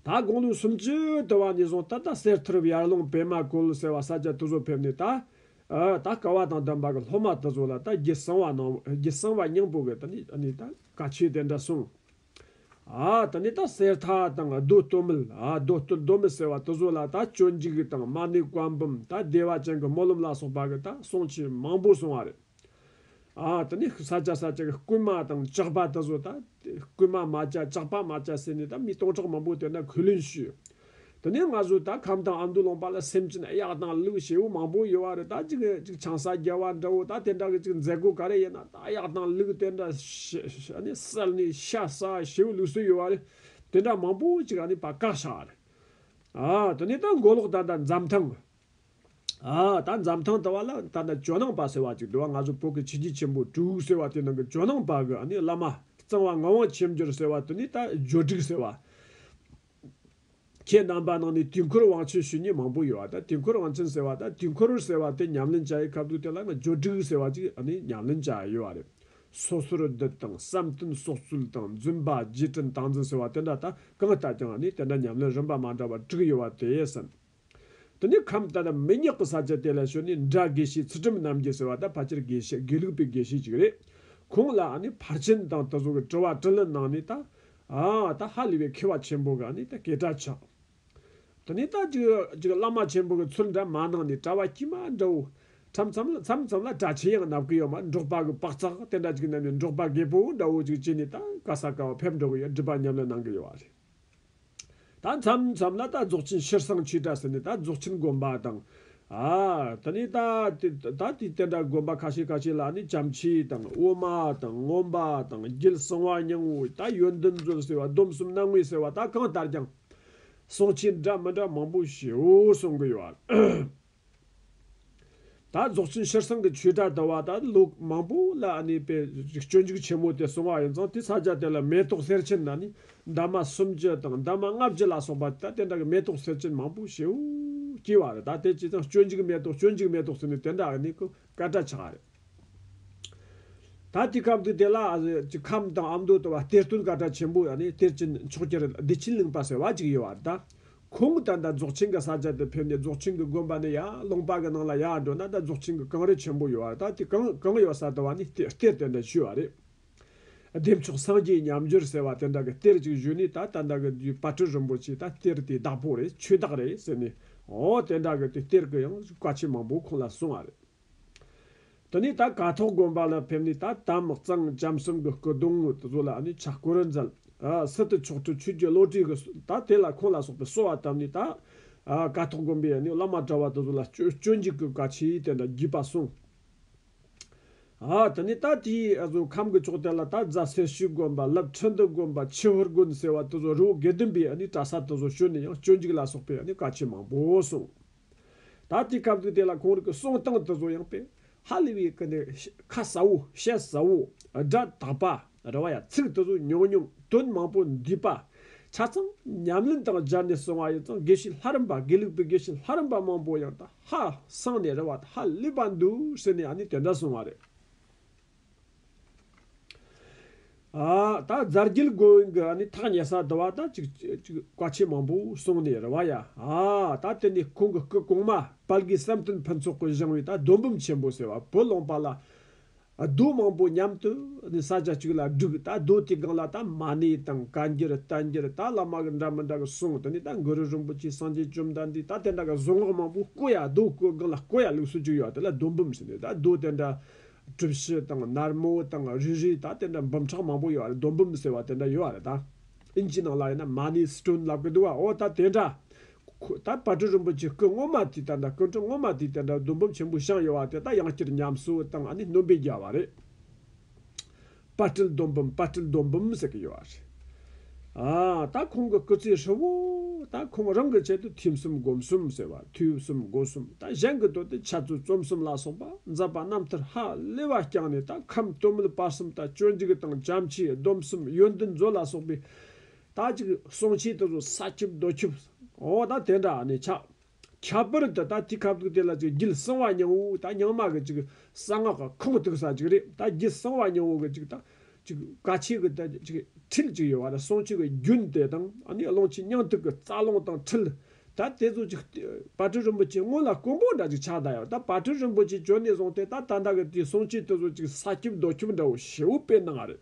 ད་དགོངས་ལུགས་སུམ་ཅུ་དུ་བ་ནས་བཟུང་ད་ལྟ་གསེར་ཐུར་ཡར་ཀླུང་བེ་མ་ཀུལ་ཟེར་བ་ས་སྐྱ་དུ་ཟོ་ཕེབས་ནས་ད། ད་སྐ་བ་དང་ལྡན་པ་གི་སློབ་མ་དུ་ཟོ་ལ་ད་རྒྱུད་གསང་བ་ནང་རྒྱུད་གསང་བ་སྙིང་པོ་གི་ད་ནི་ནི་ད་བཀའ་ཆོས་དེ་འདྲ་གསུངས། ད་ནི་ད་གསེར་ཐ་དང་རྡོ་སྟོད་མིལ་རྡོ་སྟོད་རྡོ་མིལ་ཟེར་བ་དུ་ཟོ་ལ་ད་སྤྱོད་འཇུག་དང་མ་ནི་བཀའ་འབུམ་ད་བདེ་བ་ཅན་གི་སྨོན་ལམ་ལ་སོགས་པ་གི་ད་གསུང་ཆོས་མང་པོ་གསུང་བ་རེད། ཨ་དེ་ནས་ས་བཅད་ས་བཅད་ཀྱི་རྐུན་མ་དང་ལྕགས་པ་དེ་ཚོ་དང། རྐུན་མ་མ་བཅད་ལྕགས་པ་མ་བཅད་ཟེར་ནས་ད་མི་སྟོང་ཕྲག་མང་པོ་དེ་འདྲ་གུས་ལུན་ཞུས། དེ་ནས་ང་ཚོས་ད་ཁམས་དང་ཨ་མདོ་ལོངས་པ་ལ་སེམས་ཅན་ཨེ་ཡག་དང་ལུག་བྱེད་བོ་མང་པོ་ཡོད་བ་རེད་ད་ཅིག་ཅིག་ཆང་ས་རྒྱལ་བ་འདྲ་བོ་ད་དེ་འདྲ་གི་ཅིག་མཛད་སྒོ་ག་རེ་ཡིན་ན་ད་གཡག་དང་ལུག་དེ་འདྲ་བསད་ནས་ཤ་ཟ་བྱེད་བོ་ལུག་སྲོལ་ཡོད་བ་རེད་དེ་འདྲ་མང་པོ་ཅིག་བཀག་བཞག་རེད། ཨ་དེ་ནས་ད་མགོ་ལོག་ད་ད་འཛམ་ཐང། ད་འཛམ་ཐང་དུ་བ་ལ་ད་ལྟ་ཇོ་ནང་པ་ཟེར་བ་ཅིག་འདུག་བ་ང་ཚོ་བོད་ཀྱི་ཆིག་སྒྲིལ་ཆེན་པོ་དྲུག་ཟེར་བ་དེ་ནང་གི་ཇོ་ནང་པ་གི་ནི་བླ་མ་གཙང་བ་ངག་དབང་ཆེམ་འགྱུར་ཟེར་བ་དེ་ནི་ད་ཇོ་དྲུག་ཟེར་བ། ཁྱེད་རྣམ་པ་ནང་ནས་དུས་འཁོར་དབང་ཆེན་ཞུ་ཉེ་མང་པོ་ཡོད་བ་ད་དུས་འཁོར་དབང་ཆེན་ཟེར་བ་ད་དུས་འཁོར་ཟེར་བ་དེ་ཉམས་ལེན་བྱ་ཡི་ཁབ་འདུག་དེ་ལ་ང་ཇོ་དྲུག་ཟེར་བ་ཅིག་ནི་ཉམས་ལེན་བྱ་ཡི་ཡོད་བ་རེད། སོ་སོར་བསྡུ་དང་བསམ་གཏན་སྲོག་རྩོལ་དང་བརྫུན་པ་རྗེས་དྲན་སྟངས་འཛིན་ཟེར་བ་དེ་འདྲ་ད་གང་བལྟ་ཀྱང་ནི་དེ་འདྲ་ཉམས་ལེན་རིམ་པ་མ་འདྲ་བ་དྲུག་ཡོད་བ་དེ་ཡིན། དེ་ནས་ཁམས་ལྟར་མི་ཉག་གི་ས་ཆ་དེ་ལ་བྱོན་ནས་འདྲ་དགེ་བཤེས་ཚུལ་ཁྲིམས་རྣམ་རྒྱལ་ཟེར་བ་དང་ཕལ་ཆེར་དགེ་བཤེས་དགེ་ལུགས་པའི་དགེ་བཤེས་ཅིག་རེད། ཁོང་ལ་ཕར་ཕྱིན་དང་དེ་སོགས་ཀྱི་དྲི་བ་དྲིས་ལན་གནང་ནས་ད་ད་ཧ་ལས་པའི་མཁས་པ་ཆེན་པོ་ག་ད་གས་གྲ་ཆག། དེ་ནས་ད་ཅིག་ཅིག་བླ་མ་ཆེན་པོ་གི་ཚུལ་འདྲ་མ་གནང་ནས་གྲྭ་བ་དཀྱུས་མ་འདྲ་བོ། མཚམས་མཚམས་ལ་མཚམས་མཚམས་ལ་གྲྭ་ཆེན་ཡང་མནབ་གི་ཡོད་མ་འབྲོག་པ་གི་པགས་ཚག་དེ་འདྲ་ཅིག་མནབ་ནས་འབྲོག་པ་རྒད་པོ་འདྲ་བོ་ཅིག་བྱས་ནས་ད་ག་ས་ག་བ་ཕེབས་འགྲོ་གི་ཡོད་སྒྲིབ་པ་ཉམས་ལེན་གནང་གི་ཡོད་རེད། ད་མཚམས་མཚམས་ལ་ད་རྫོགས་ཆེན་ཕྱིར་སང་ཆོས་གྲྭ་ཟེར་ནས་ད་རྫོགས་ཆེན་དགོན་པ་དང། དེ་ནས་ད་ད་དུས་དེ་འདྲ་དགོན་པ་ཁ་ཤས་ཁ་ཤས་ལ་ནི་བྱམས་མཆིས་དང་དབུ་མ་དང་སྔོན་པ་དང་རྒྱུད་གསང་བ་སྙིང་བོ་ད་ཡོན་ཏན་མཛོད་ཟེར་བ་སྡོམ་གསུམ་སྣང་ངེ་ཟེར་བ་ད་གང་ལྟར་ཀྱང་སང་ཆོས་གྲྭ་མི་འདྲ་མང་པོ་ཞེའུ་གསུང་གི་ཡོད། ད་རྫོགས་ཆེན་ཤེར་སང་གི་ཆོས་གྲྭ་དུ་བ་དང་ལུགས་མང་པོ་ལ་ཨ་ནི་པའི་རིགས་སྤྱོད་འཇུག་ཆེན་མོ་དེ་གསུང་བ་ཡིན་ཙང་དེ་ས་བཅད་དེ་ལ་མེ་ཏོག་གསེར་ཆེན་དང་ནི་འདབ་མ་སུམ་བཅུ་དང་འདབ་མ་ལྔ་བཅུ་ལ་སོགས་པ་ད་དེ་འདྲ་གི་མེ་ཏོག་གསེར་ཆེན་མང་པོ་ཞེའུ་སྐྱེས་བ་རེད་ད་དེ་ཅི་ཙང་སྤྱོད་འཇུག་མེ་ཏོག་སྤྱོད་འཇུག་མེ་ཏོག་ཟེར་ནས་དེ་འདྲ་ཨ་ནི་ཀུ། སྐད་གྲགས་ཆགས་རེད། ད་ལྟའི་སྐབས་འདི་དེ་ལ་གྱི་ཁམས་དང་ཨ་མདོ་དུ་བ་གཏེར་སྟོན་སྐད་གྲགས་ཆེན་པོ་ཡང་ནི་གཏེར་ཆེན་མཆོག་གྱེར་བདེ་ཆེན་གླིང་པ་ཟེར་བ་ཅིག་ཡོད་བ་རེད། ཁོང་གིས་ད་ལྟ་རྫོགས་ཆེན་གྱི་ས་ཆ་དེ་ཕེབས་ནས་རྫོགས་ཆེན་གྱི་དགོན་པ་ནས་ཡར་ཀློང་པ་གྱི་ནང་ལ་ཡར་འགྲོ་ན་ད་རྫོགས་ཆེན་གྱི་གངས་རི་ཆེན་པོ་ཡོད་བ་རེད་ད་དེ་གངས་ཡོད་ས་དུ་བ་ནི་གཏེར་སྟོན་དེ་བཞུགས་བ་རེད། བདེ་མཆོག་སངས་རྒྱས་མཉམ་སྦྱོར་ཟེར་བ་དེ་འདྲ་གི་གཏེར་ཅིག་བཞུ་ནས་ད་ལྟ་འདྲ་གི་དུས་བཀའ་ཁྲི་རིན་པོ་ཆེས་ད་གཏེར་དེ་བདག་པོ་རེད་ཆོས་བདག་རེད་ཟེར་ནས་འོ་དེ་འདྲ་གི་དུས་གཏེར་གི་ཡང་བཀའ་ཆད་མང་པོ་ཁོང་ལ་གསུངས་བ་རེད། དེ་ནས་ད་ག་ཐོག་དགོན་པ་ལ་ཕེབས་ནས་ད་དམ་གཙང་བྱམས་གསུམ་གི་སྐུ་གདུང་ངོས་དུ་བཟོ་ལ་ནི་ཕྱག་སྐོར་མཛད། སི་ཏུ་མཆོག་སྤྲུལ་ཆོས་རྒྱལ་བློ་གྲོས་ཀྱིས་ད་དེ་ལ་ཁོང་ལ་སོགས་པའི་གསོལ་བ་བཏབ་ནས་ད་ག་ཐོག་དགོན་པའི་ནི་བླ་མ་གྲྭ་བ་དུ་བཟོ་ལ་སྤྱོད་འཇུག་གི་བཀའ་ཆད་དེ་འདྲ་བགྱིས་པ་གསུངས། ཨ་ད་ནི་ད་དེའི་ཨ་ཟོ་ཁམས་ཀྱི་ཕྱོགས་དེ་ལ་ད་རྫ་སེར་ཤུལ་དགོན་པ་ལབ་ཁྲི་འདུ་དགོན་པ་ཆི་ཧོར་དགོན་ཟེར་བ་དེ་ཚོ་རི་བོ་དགེ་འདུན་པའི་གྲྭ་ས་དེ་ཚོ་ཞོལ་ནས་ཡང་སྤྱོད་འཇུག་ལ་སོགས་པའི་བཀའ་ཆོས་མང་པོ་གསུངས། ད་དེའི་སྐབས་དུས་དེ་ལ་གོང་རིགས་ཀྱི་གསུང་སྟངས་དེ་ཚོ་ཡང་དཔེ་ཧ་ལས་པའི་སྐུ་ནས་ཁ་ཟ་བོ་བཤད་ཟ་བོ་སྒྲ་དག་པ་རེ་བ་ཡ་ཚིག་དེ་ཚོ་ཉུང་ཉུང་དོན་མང་པོ་འདུས་པ། ཆ་ཚང་ཉམས་ལེན་དང་སྦྱར་ནས་གསུང་བ་ཡོད་ཙང་དགེ་བཤེས་ལྷ་རམས་པ་དགེ་ལུགས་པའི་དགེ་བཤེས་ལྷ་རམས་པ་མང་པོ་ཡང་ད་ཧ་སང་ནས་རེ་བ་ད་ཧ་ལེགས་པ་འདུག་ཟེར་ནས་ཡང་ནས་དེ་འདྲ་གསུང་བ་རེད། ད་རྫ་རྒྱུད་དགོན་གྱི་ཨ་ནི་ཐག་ཉེ་ས་དུ་བ་ད་ཅིག་ཅིག་བཀའ་ཆེན་མང་པོ་གསུང་ནས་རེ་བ་ཡ་ད་དེ་ནས་ཁོང་གི་སྐུ་གོང་མ་དཔལ་དགེ་བསམ་སྟོན་ཕུན་ཚོགས་སྐུ་བཞེངས་བའི་ད་རྡོ་འབུམ་ཆེན་པོ་ཟེར་བ་བུ་ལོང་པ་ལ་རྡོ་མང་པོ་མཉམ་དུ་ནི་ས་ཆ་གཅིག་ལ་བསྒྲིགས་ད་རྡོ་དེའི་སྒང་ལ་ད་མ་ཎི་དང་བཀའ་འགྱུར་རྟེན་འབྱེར་ད་བླ་མ་གི་འདྲ་མི་འདྲ་གི་གསུང་དུ་ནི་ད་གུ་རུ་རིན་པོ་ཆེའི་སངས་རྒྱས་བཅོམ་ལྡན་འདས་ད་དེ་འདྲ་གི་བཟོ་ངག་མང་པོ་བཀོད་ཡ་རྡོ་བཀོད་སྒང་ལ་བཀོད་ཡ་ལུགས་སྲོལ་བཅུ་ཡོད་དེ་ལ་རྡོ་འབུམ་ཟེར་ནས་ད་རྡོ་དེ་འདྲ་གྲུ་བཞི་དང་ནར་མོ་དང་རུས་རིས་ད་དེ་འདྲ་འབུམ་ཕྲག་མང་པོ་ཡོད་རེད་རྡོ་འབུམ་ཟེར་བ་དེ་འདྲ་ཡོད་རེད་ད་ཨིན་ཇིའི་ནང་ལ་ཡིན་ན་མ་ཎི་སི་ཏྲོན་ལབ་གི་འདུག་བ་འོ་ད་དེ་འདྲ་ཁོས་ད་བར་གྲི་རིན་པོ་ཆེ་སྐུ་སྔོན་མ་དེ་ལྟར་འདྲ་སྐུ་མཁྲིས་སྔོན་མ་དེ་ལྟར་འདྲ་རྡོ་འབུམ་ཆེན་པོའི་ཤངས་ཡོད་བ་དེ་དག་ཡང་བསྐྱར་ཉམས་གསོ་བཏང་བ་ནི་སྣོན་པའི་རྒྱལ་བ་རེད། དཔའ་སྤྲེལ་རྡོ་འབུམ་དཔའ་སྤྲེལ་རྡོ་འབུམ་ཟེར་གྱི་ཡོད་བ་རེད། ཨ། ད་ཁོང་གི་སྐུ་ཚེ་ཧྲིལ་བོ། ད་ཁོང་རང་གི་ཆེད་དུ་ཐུན་གསུམ་སྒོམ་གསུམ་ཟེར་བ་དུས་གསུམ་སྒོ་གསུམ་ད་གཞན་གྱི་དོན་དུ་འཆད་རྩོད་རྩོམ་གསུམ་ལ་སོགས་པ་མཛད་པ་རྣམ་ཐར་ཧ་ལས་བ་བསྐྱངས་ནས་ད་ཁམས་སྟོད་མོད་བར་གསུམ་ད་སྤྱོད་འཇུག་དང་བྱམས་ཆོས་སྡོམ་གསུམ་ཡོན་ཏན་མཛོད་ལ་སོགས་པའི་དག་ཅིག་གསུང་ཆེད་དུ་ས་ཆུབ་རྡོ་ཆུབ། འོ་ད་དེ་འདྲ་ནི་ཆགས། ཁྱད་པར་དུ་ད་དེ་ཁབ་ཐུག་དེ་ལ་ཅིག་བརྒྱུད་གསང་བ་ཉུང་བོ་ད་ཉང་མ་གི་ཅིག་གསང་སྔགས་ཀྱི་ཁུངས་གཏུགས་ས་ཅིག་རེད་ད་བརྒྱུད་གསང་བ་ཉུང་བོ་གི་ཅིག་ད་ཅིག་བཀའ་ཆོས་ཀྱི་ད་ཅིག་ཁྲིད་ཅིག་ཡོད་བ་ད་གསུང་ཆོས་ཀྱི་རྒྱུན་དེ་དང་ཨ་ནི་ཀློང་ཆེན་སྙིང་ཐིག་གི་རྩ་རླུང་དང་ཁྲིད། ད་དེ་ཚོ་ཅིག་བར་དོའི་རིན་པོ་ཆེ་སྔོན་ལ་སྐུ་འབུམ་འདྲ་ཅིག་ཕྱག་བདར་ཡོད་ད་བར་དོའི་རིན་པོ་ཆེ་བྱོན་ནས་བཟུང་སྟེ་ད་ད་འདྲ་གི་དེའི་གསུང་ཆེད་དུ་ཅིག་ས་ཆུབ་རྡོ་ཆུབ་འདྲ་བོ་བྱེའུ་དཔེ་གནང་བ་རེད།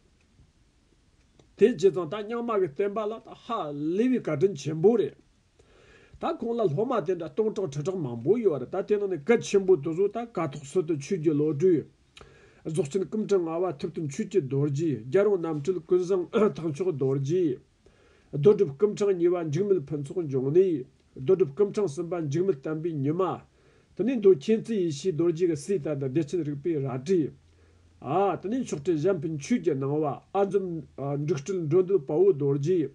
དེ་རྗེས་ཙང་ད་རྙང་མ་གི་བསྟན་པ་ལ་ད་ཧ་ལི་བའི་བཀའ་དྲིན་ཆེན་པོ་རེད། ད་ཁོང་ལ་སློབ་མ་དེ་འདྲ་སྟོང་ཕྲག་ཁྲི་ཕྲག་མང་པོ་ཡོད་རེད་ད་དེ་ནང་ནས་སྐལ་ཆེན་པོ་དེ་ཚོ་ད་དཀའ་ཐོག་སྲིད་དུ་ཆོས་རྒྱུད་བློ་གྲོས། རྫོགས་ཆེན་སྐུ་ཕྲེང་ལྔ་བ་ཐུབ་བསྟན་ཆོས་ཀྱི་རྡོ་རྗེ་རྒྱལ་རོང་རྣམ་སྤྲུལ་ཀུན་བཟང་ཐང་མཆོག་རྡོ་རྗེ། རྡོ་གྲུབ་སྐུ་ཕྲེང་གཉིས་པ་འཇིགས་མེད་ཕུན་ཚོགས་འབྱུང་གནས། རྡོ་གྲུབ་སྐུ་ཕྲེང་གསུམ་པ་འཇིགས་མེད་བསྟན་པའི་ཉི་མ། དེ་ནས་མདོའི་མཁྱེན་བརྩེའི་ཡེ་ཤེས་རྡོ་རྗེ་གི་སྲས་དར་དང་བདེ་ཆེན་རིག་པའི་རལ་གྲི། དེ་ནས་མཆོག་སྤྲུལ་གཞན་ཕན་ཆོས་ཀྱི་སྣང་བ་ཨ་འཛོམ། འབྲུག་སྤྲུལ་འགྲོ་འདུལ་དཔའ་བོ་རྡོ་རྗེ།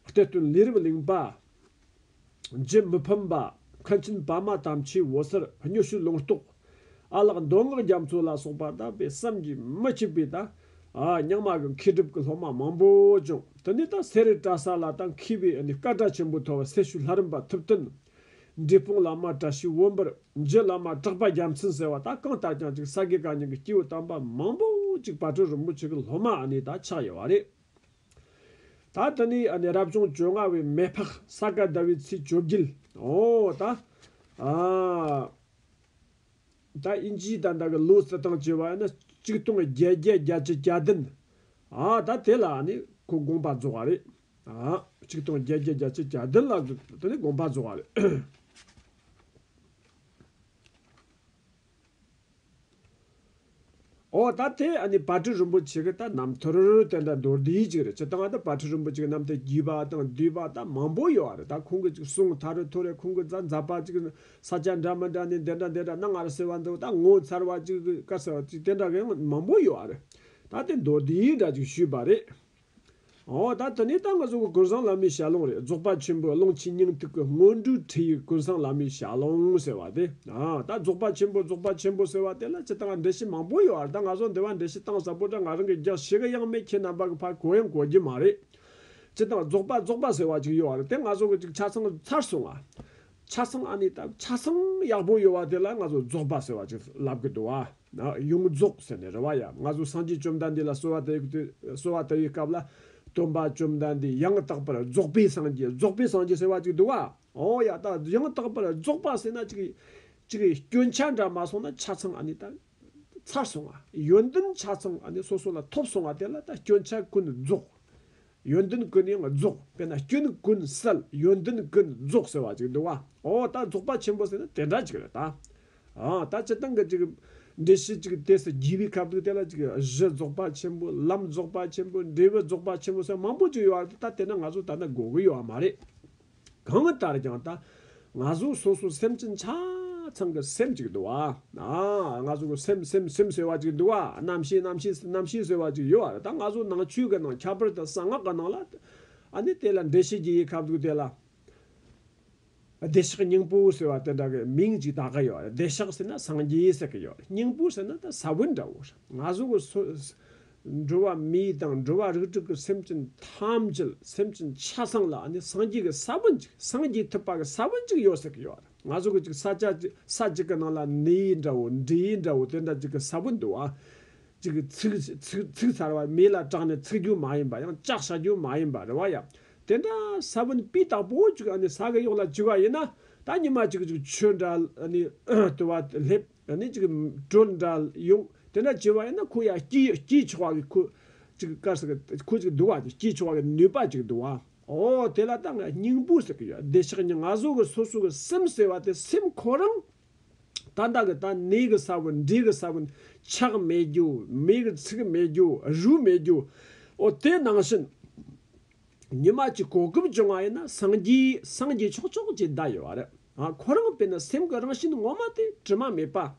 གཏེར་སྟོན་ལས་རབ་གླིང་པདྨ། མི་ཕམ་པདྨ་ཆེན་པདྨ་དམ་ཆོས་འོད་ཟེར་སྙུ་གཤོལ་ལུང་རྟོགས། ཨ་ལགས་མདོ་སྔགས་རྒྱ་མཚོ་ལ་སོགས་པ་དག་པའི་བསམ་གྱིས་མི་ཁྱབ་པའི་ཉག་མ་གི་མཁས་གྲུབ་ཀྱི་སློབ་མ་མང་པོ་བྱུང། དེ་ནས་ད་གསེར་རི་བཀྲ་ས་ལ་ད་མཁས་པའི་བཀའ་གྲྭ་ཆེན་པོ་ཐོ་བ་སེར་ཤུལ་ལྷ་རམས་པ་ཐུབ་བསྟན། འབྲས་སྤུངས་བླ་མ་བཀྲ་ཤིས་དབོན་པར་འབྱེད་བླ་མ་གྲགས་པ་རྒྱ་མཚན་ཟེར་བ་དག་གང་ལྟར་ཀྱང་ཅིག་ས་དགེ་བཀའ་རྙིང་གི་སྐྱེས་བུ་དམ་པ་མང་པོ་ཅིག་བར་དྲོད་རིན་པོ་ཆེ་གི་སློབ་མ་ཨ་ནེ་དག་ཆགས་ཡོད་བ་རེད། ད་ལྟ་ནི་ཨ་ནེ་རབ་བྱུང་བཅོ་ལྔ་བའི་མེ་ཕག་ས་ག་ཟླ་བའི་ཚེས་བཅོ་བརྒྱད་འོ་ད་ཨ་ད་དབྱིན་ཇིའི་ད་ལྟ་གི་ལོའི་རྩི་ཐང་བཅས་བ་ཡིན་ན་གཅིག་སྟོང་བརྒྱད་བརྒྱད་བརྒྱ་བཅུ་གྱ་བདུན་ཨ་ད་དེ་ལ་ཨ་ནེ་ཁོ་དགོངས་པ་རྫོགས་བ་རེད། གཅིག་སྟོང་བརྒྱད་བརྒྱ་བརྒྱ་ཆའི་གྱ་བདུན་ལ་དེ་ནས་དགོངས་པ་རྫོགས་བ་རེད། ཨོ་ད་དེ་ཨ་ནི་བར་དྲི་རིན་པོ་ཆེ་གི་ད་ནམ་ཐུར་དེ་འདྲ་མདོར་བསྡུས་གཅིག་རེད་ཅི་སྟངས་ད་བར་དྲི་རིན་པོ་ཆེ་གི་ནམ་ཐད་བརྒྱུས་པ་དང་བསྡུས་པ་ད་མང་པོ་ཡོད་བ་རེད་ད་ཁོང་གི་ཅིག་གསུངས་ད་རུ་ཐུར་རེད་ཁོང་གི་རྫ་འཛག་པ་ཅིག་ཟ་བྱ་འདྲ་མི་འདྲ་ནི་འདི་འདྲ་འདི་འདྲ་གནའ་ངར་ཟེར་བ་འདུག་ད་ངོ་མཚར་བ་ཅིག་གི་སྐད་ཟེར་བ་ཅིག་དེ་འདྲ་གི་མང་པོ་ཡོད་བ་རེད་ད་དེ་མདོར་བསྡུས་འདྲ་ཅིག་ཞུས་པ་རེད། འོ་ད་དེ་ནས་ད་ང་གཟུགས་ཀྱི་ཀུན་བཟང་བླ་མའི་ཞལ་ལུང་རེད་རྫོགས་པ་ཆེན་པོའི་ཀློང་ཆེན་སྙིང་ཐིག་གི་སྔོན་འགྲོའི་ཁྲིད་ཡིག་ཀུན་བཟང་བླ་མའི་ཞལ་ལུང་ཟེར་བ་དེ། ད་རྫོགས་པ་ཆེན་པོ་རྫོགས་པ་ཆེན་པོ་ཟེར་བ་དེ་ལ་ཇི་ལྟར་འགྲེལ་བཤད་མང་པོ་ཡོད་བར་ད་ང་ཚོ་འདི་བར་འགྲེལ་བཤད་གཏང་ཟབ་པོ་དྲ་ང་རང་གིས་རྒྱག་ཤེས་གི་ཡང་མེད་ཁྱེད་རྣམ་པ་གི་ཕར་གོ་ཡང་གོ་རྒྱུ་མ་རེད། སྤྱི་དང་རྫོགས་པ་རྫོགས་པ་ཟེར་བ་ཅིག་ཡོད་བར་དེ་ང་ཚོ་གི་ཅིག་ཆ་ཚང་ཚར་སོང་ང། ཆ་ཚང་ཨ་ནི་སྟབས་ཆ་ཚང་ཡག་པོ་ཡོད་བ་དེ་ལ་ང་ཚོ་རྫོགས་པ་ཟེར་བ་ཅིག་ལབ་གི་འདུག་ཨ། ཡོངས་རྫོགས་ཟེར་ནས་རེ་བ་ཡ། ང་ཚོ་སངས་རྒྱས་བཅོམ་ལྡན་འདས་ལ་གསོལ་བ་དེ་གསོལ་བ་དེའི་སྐབས་ལ། སྟོན་པ་བཅོམ་ལྡན་འདས་ཡང་དག་པར་རྫོགས་པའི་སངས་རྒྱས་རྫོགས་པའི་སངས་རྒྱས་ཟེར་བ་ཅིག་འདུག་ཨ། ཨོ་ཡ་ད་ཡང་དག་པར་རྫོགས་པ་ཟེར་ན་ཅིག། ཅིག་སྐྱོན་ཆ་འདྲ་མ་སོང་ན་ཆ་ཚང་ཨ་ནི་ད། ཚར་སོང་ཨ། ཡོན་ཏན་ཆ་ཚང་ཨ་ནི་སོ་སོ་ལ་ཐོབ་སོང་བ་དེ་ལ་ད་སྐྱོན་ཆ་ཀུན་རྫོགས། ཡོན་ཏན་ཀུན་ཡང་རྫོགས་དཔེར་ན་སྐྱོན་ཀུན་བསལ་ཡོན་ཏན་ཀུན་རྫོགས་ཟེར་བ་ཅིག་འདུག་བ་འོ་ད་རྫོགས་པ་ཆེན་པོ་ཟེར་ན་དེ་འདྲ་ཅིག་རེད་ད། ཨང་ད་སྤྱི་སྟངས་ཀྱི་ཅིག་འགྲེལ་བཤད་ཅིག་དེ་སུ་བགྱི་བའི་ཁབ་འདུག་དེ་ལ་ཅིག་གཞི་རྫོགས་པ་ཆེན་པོ་ལམ་རྫོགས་པ་ཆེན་པོ་འབྲས་བུ་རྫོགས་པ་ཆེན་པོ་སོགས་མང་པོ་ཅིག་ཡོད་བ་རེད་ད་དེ་ན་ང་ཚོ་ད་ལྟ་དགོས་ཀྱི་ཡོད་བ་མ་རེད། གང་ལྟར་ཀྱང་ད་ང་གཟུགས་སོ་སོ་སེམས་ཅན་ཆ་ཚང་གི་སེམས་གཅིག་འདུག་ཨ། ང་གཟུགས་སེམས་སེམས་སེམས་ཟེར་བ་གཅིག་འདུག་ཨ་རྣམ་ཤེས་རྣམ་ཤེས་རྣམ་ཤེས་ཟེར་བ་གཅིག་ཡོད་ཨ་ད་ང་གཟུགས་ནང་ཆོས་ཀྱི་ནང་ཁྱད་པར་དུ་གསང་སྔགས་ཀྱི་ནང་ལ་ཨ་ནི་དེ་ལ་འགྲེལ་བྱེད་ཀྱི་ཡི་ག་འདུག་དེ་ལ་བདེ་གཤེགས་སྙིང་པོ་ཟེར་བ་དེ་འདྲ་གི་མིང་གཅིག་དག་གི་ཡོད་ཨ་བདེ་གཤེགས་ཟེར་ན་སངས་རྒྱས་ཟེར་གི་ཡོད་ཨ་སྙིང་པོ་ཟེར་ན་ད་ས་བོན་འདྲ་བོ་ང་གཟུགས་འགྲོ་བ་མི་དང་འགྲོ་བ་རིགས་དྲུག་གི་སེམས་ཅན་ཐམས་ཅད་སེམས་ཅན་ཆ་ཚང་ལ་ནི་སངས་རྒྱས་ཀྱི་ས་བོན་ཅིག་སངས་རྒྱས་ཐུབ་པ་གི་ས་བོན་ཅིག་ཡོད་ཟེར་གྱི་ཡོད་རེད་ང་ཟོ་གི་ཅིག་ས་ཆ་ཅིག་ས་ཅིག་གི་ནང་ལ་ནི་ཡི་འདྲ་བོ་འབྲི་ཡི་འདྲ་བོ་དེ་འདྲ་ཅིག་གི་ས་བོན་འདུག་ཨ། ཅིག་ཚིག་གསར་བ་མི་ལ་སྐྲག་ནས་ཚིག་རྒྱུ་མ་ཡིན་པ་ཡང་ལྕགས་བྱ་རྒྱུ་མ་ཡིན་པ་རེད་བ་ཡ། དེ་འདྲ་ས་བོན་སྤུས་དག་པོ་ཅིག་ཨ་ནི་ས་གི་གཡོག་ལ་བྱིས་བ་ཡིན་ན་ད་ཉི་མ་ཅིག་ཅིག་ཆོས་འདྲ་ཨ་ནི་དུ་བ་སླེབས། ཡང་ནི་ཅིག། དྲོད་འདྲ་ཡོང། དེ་འདྲ་བྱེད་པ་ཡིན་ན་ཁུ་ཡ་སྐྱིད་ཆོག་གི་ཁུ། ཅིག་དཀར་ཟེར་གི་ཁུ་ཅིག་བསྡུ་བ་དེ་སྐྱིད་ཆོག་གི་ནུས་པ་ཅིག་བསྡུ་བ། འོ་དེ་ལ་ད་ང་སྙིང་པོ་ཟེར་གི་ཡོད་བདེ་ཆགས་ཉིད་ང་སོ་གི་སོ་སོ་གི་སེམས་ཟེར་བ་དེ་སེམས་ཁོ་རང། ད་ལྟ་གི་ད་ནི་གི་ས་བོན་འདི་གི་ས་བོན་ཆགས་མེད་རྒྱུ་མེད་གི་ཚིག་མེད་རྒྱུ་རུས་མེད་རྒྱུ། འོ་དེ་ནང་བཞིན། ཉི་མ་གཅིག་གོ་སྐབས་བྱུང་བ་ཡིན་ན་སངས་རྒྱས་སངས་རྒྱས་ཆོག་ཆོག་ཅེས་བསྡད་ཡོད་བ་རེད། ཁོ་རང་དཔེར་ན་སེམས་ཀྱི་རང་བཞིན་ངོ་མ་དེ་དྲི་མ་མེད་པ།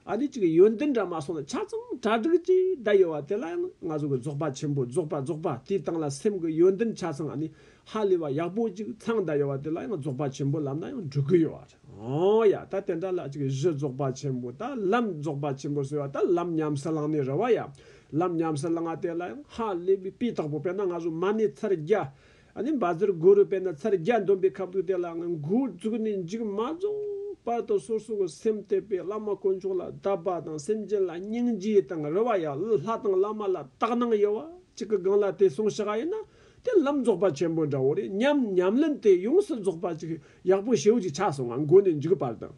ཨ་ལི་ཅིག་གི་ཡོན་ཏན་འདྲ་མ་སོང་ན་ཆ་ཚང་གྲ་སྒྲིག་ཅིག་བསྡད་ཡོད་བ་དེ་ལ་ཡང་ང་ཚོ་གི་རྫོགས་པ་ཆེན་པོ་རྫོགས་པ་རྫོགས་པ་དེའི་སྟེང་ལ་སེམས་ཀྱི་ཡོན་ཏན་ཆ་ཚང་ཨ་ནི་ཧ་ལས་བ་ཡག་པོ་ཅིག་ཚང་བསྡད་ཡོད་བ་དེ་ལ་ཡང་རྫོགས་པ་ཆེན་པོ་ལབ་ན་ཡང་འགྲིག་གི་ཡོད་བ་རེད་ཨང་ཡ་ད་དེ་འདྲ་ལ་ཅིག་གཞི་རྫོགས་པ་ཆེན་པོ་ད་ལམ་རྫོགས་པ་ཆེན་པོ་ཟེར་བ་ད་ལམ་ཉམས་སུ་བླངས་ནས་རེད་བ་ཡ་ལམ་ཉམས་སུ་བླངས་བ་དེ་ལ་ཡང་ཧ་ལས་བའི་དཔེ་དག་པོ་དཔེར་ན་ང་ཚོ་མ་ནི་ཚར་བརྒྱ་ཨ་ནི་འབའ་ཟེར་དགུ་རུ་པས་ན་ཚར་བརྒྱ་འདོན་པའི་ཁབ་གདུགས་དེ་ལའང་མགོ་འཛུགས་ནས་མཇུག་མ་རྫོགས་བར་དུ་སོ་སོ་གི་སེམས་གཏོད་པའི་བླ་མ་དཀོན་མཆོག་ལ་བདག་པ་དང་སེམས་ཅན་ལ་སྙིང་རྗེ་དང་རེ་བ་ཡང་ལྷ་དང་བླ་མ་ལ་དག་སྣང་ཡོད་བ་གཅིག་གི་སྒང་ལ་དེ་སོང་ཤག་ཨ་ཡིན་ན་དེ་ལམ་རྫོགས་པ་ཆེན་པོ་འདྲ་བོ་རེད་སྙམ་ཉམས་ལེན་དེ་ཡོངས་སུ་རྫོགས་པ་ཅིག་ཡག་པོ་ཞེ་བོ་ཅིག་ཆགས་སོང་ང་མགོ་ནས་མཇུག་བར་དུ་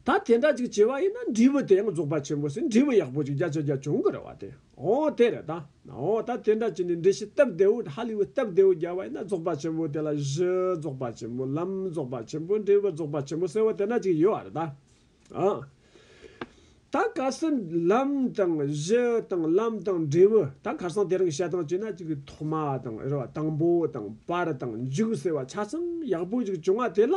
ད་དེ་འདྲ་ཅིག་བྱས་པ་ཡིན་ན་འབྲས་བུ་དེ་ཡང་རྫོགས་པ་ཆེན་པོ་སྲིད་འབྲས་བུ་ཡག་པོ་ཅིག་བརྒྱ་ཆ་བརྒྱ་འབྱུང་གི་རེད་བ་དེ་ཨོ་དེ་རེད་ད། ཨོ་ད་དེ་འདྲ་ཅིག་ནས་འབྲས་ཤིང་སྟབས་བདེ་བོ་ཧ་ལི་བོ་སྟབས་བདེ་བོ་རྒྱག་པ་ཡིན་ན་རྫོགས་པ་ཆེན་པོ་དེ་ལ་གཞི་རྫོགས་པ་ཆེན་པོ་ལམ་རྫོགས་པ་ཆེན་པོ་འབྲས་བུ་རྫོགས་པ་ཆེན་པོ་ཟེར་བ་དེ་འདྲ་ཅིག་ཡོད་བ་རེད་ད། ཨོ། ད་གལ་སྲིད་ལམ་དང་གཞི་དང་ལམ་དང་འབྲས་བུ་ད་གར་སང་དེ་རང་གི་བཤད་སྟངས་བྱས་ན་ཅིག་ཐོག་མ་དང་རེ་བ་དང་པོ་དང་བར་དང་མཇུག་ཟེར་བ་ཆ་ཚང་ཡག་པོ་ཅིག་བྱུང་བ་དེ་ལ་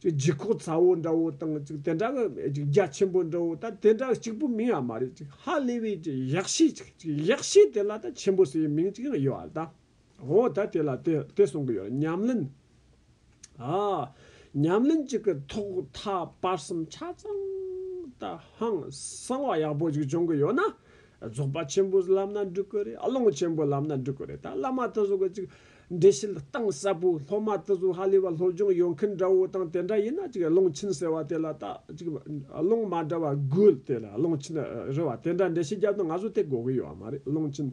ཅིག་ལྗིད་ཁོག་ཚ་བོ་འདྲ་བོ་དང་ཅིག་དེ་འདྲ་གི་ཅིག་རྒྱ་ཆེན་པོ་འདྲ་བོ་ད་དེ་འདྲ་གཅིག་པུ་མིང་ཡང་མ་རེད་ཅིག་ཧ་ལས་པའི་ཅིག་གཡག་བཤེས་ཅིག་ཅིག་གཡག་བཤེས་དེ་ལ་ད་ཆེན་པོ་ཟེར་བའི་མིང་ཅིག་ཡང་ཡོད་ཨ་ད། ཧོ་ད་དེ་ལ་དེ་དེ་གསུང་གི་ཡོད་ཉམས་ལེན། ཨ། ཉམས་ལེན་ཅིག་གི་ཐོག་མཐའ་བར་གསུམ་ཆ་ཚང་ད་ཧང་གསང་བ་ཡག་པོ་ཅིག་བྱུང་གི་ཡོད་ན། རྫོགས་པ་ཆེན་པོ་ལམ་སྣ་འགྲུལ་གི་རེད་ཨ་ལོང་ཆེན་པོ་ལམ་སྣ་འགྲུལ་གི་རེད་ད་བླ་མ་དེ་ཚོ་གི་ཅིག་འགྲེལ་བཤད་གཏིང་ཟབ་པོ་སློབ་མ་དེ་ཚོ་ཧ་ལས་པ་སློབ་སྦྱོང་ཡོང་མཁན་འདྲ་བོ་དང་དེ་འདྲ་ཡིན་ན་ཅིག་ཀློང་ཆེན་ཟེར་བ་དེ་ལ་ལྟ་ཅིག་ཀློང་མ་འདྲ་བ་དགོས་དེ་ལ་ཀློང་ཆེན་རེད་བ་དེ་འདྲ་འགྲེལ་བཤད་རྒྱབ་ཏུ་ང་ཚོ་དེ་གོ་གི་ཡོད་མ་རེད་ཀློང་ཆེན།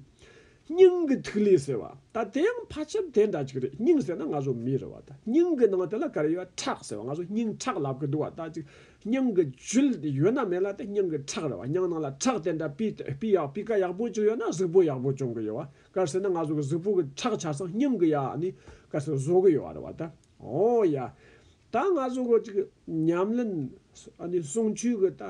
སྙིང་གི་ཐིག་ལེ་ཟེར་བ་ད་དེ་ཡང་ཕལ་ཆེར་དེ་འདྲ་ཅིག་རེད་སྙིང་ཟེར་ན་ང་ཚོ་མི་རེད་བ་ད་སྙིང་གི་ནང་དེ་ལ་ག་རེ་ཡོད་བ་ཁྲག་ཟེར་བ་ང་ཚོ་སྙིང་ཁྲག་ལབ་གི་འདུག་བ་ད་ཅིག་སྙིང་གི་ཇུལ་ཡོད་ན་མེད་ལ་དེ་སྙིང་གི་ཁྲག་རེད་བ་སྙིང་ནང་ལ་ཁྲག་དེ་འདྲ་སྤུས་དཔེ་ཡག་སྤུས་ཀ་ཡག་པོ་ཅིག་ཡོད་ན་གཟུགས་པོ་ཡག་པོ་སྐྱོང་གི་ཡོད་བ་དཀར་ཟེར་ན་ང་ཚོ་གི་གཟུགས་པོ་གི་ཁྲག་ཆར་སང་སྙམ་གི་ཡ་ནི་དཀར་ཟེར་བཟོ་གི་ཡོད་རེད་བ་ད་ཨོ་ཡ། ད་ང་ཚོ་གི་ཅིག་ཉམས་ལེན་ཨ་ནི་གསུང་ཆོས་གི་ད་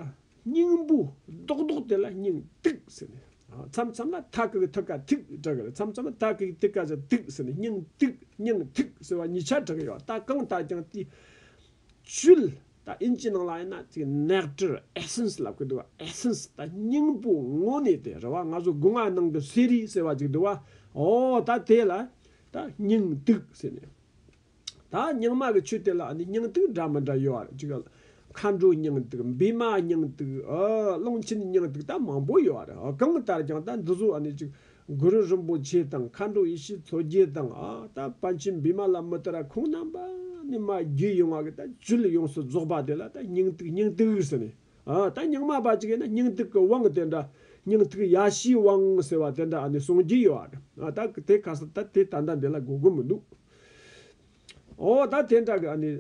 སྙིང་པོ་རྡོག་རྡོག་དེ་ལ་སྙིང་ཏིག་ཟེར་ནས་མཚམས་མཚམས་ལ་ཐ་ཀི་གི་ཐུགས་ཀ་ཐིག་གྲག་གི་རེད་མཚམས་མཚམས་ལ་ཐ་ཀི་གི་ཐིག་ཀ་ཟེར་ཏིག་ཟེར་ནས་སྙིང་ཏིག་སྙིང་ཐིག་ཟེར་བ་གཉིས་ཆ་གྲག་གི་ཡོད་བ་ད་གང་ལྟར་ཀྱང་དེའི་ཚུལ་ད་ཨིན་ཇིའི་ནང་ལ་ཡིན་ན་ཚིག nectar essence ལ་བཀོད་འདུག་བ essence ད་སྙིང་པོ་དངོས་གནས་དེ་རེད་བ་ང་ཚོ་སྒོ་ང་ནང་དུ་ཟས་རིགས་ཟེར་བ་ཅིག་འདུག་བ་ཨོ་ད་དེ་ལ་ད་སྙིང་ཏིག་ཟེར་ནས་ད་སྙིང་མ་གི་ཆུ་དེ་ལ་ནི་སྙིང་ཏིག་འདྲ་མི་འདྲ་ཡོད་བ་ཅིག་མཁའ་འགྲོའི་སྙིང་ཏིག་བི་མ་སྙིང་ཏིག་ཨོ་ཀློང་ཆེན་སྙིང་ཏིག་ད་མང་པོ་ཡོད་བ་རེད་ཨོ་གང་ལྟར་ཀྱང་ད་འདི་ཚོ་ཨ་ནི་ཅིག་གུ་རུ་རིན་པོ་ཆེ་དང་མཁའ་འགྲོ་ཡེ་ཤེས་མཚོ་རྒྱལ་དང་ཨ་ད་པ་འཆི་འབི་མ་ལ་མི་ཏི་ར་ཁོང་རྣམ་པ་ནི་མ་རྒྱུད་ཡོང་བ་གི་ད་བཅུད་ཡོངས་སུ་རྫོགས་པ་དེ་ལ་ད་སྙིང་ཐིག་སྙིང་ཐིག་ཟེར་ནས་ཨ་ད་སྙིང་མ་པ་ཅིག་ཡིན་ན་སྙིང་ཐིག་གི་དབང་དེ་འདྲ་སྙིང་ཐིག་ཡ་ཤིའི་དབང་ཟེར་བ་དེ་འདྲ་ཨ་ནི་གསུངས་ཀྱི་ཡོད་ཨ་ད་དེ་ཁ་སང་ད་དེ་ད་ལྟ་འདི་ལ་གོ་གི་མི་འདུག་ཨོ་ད་དེ་འདྲ་གི་ཨ་ནི།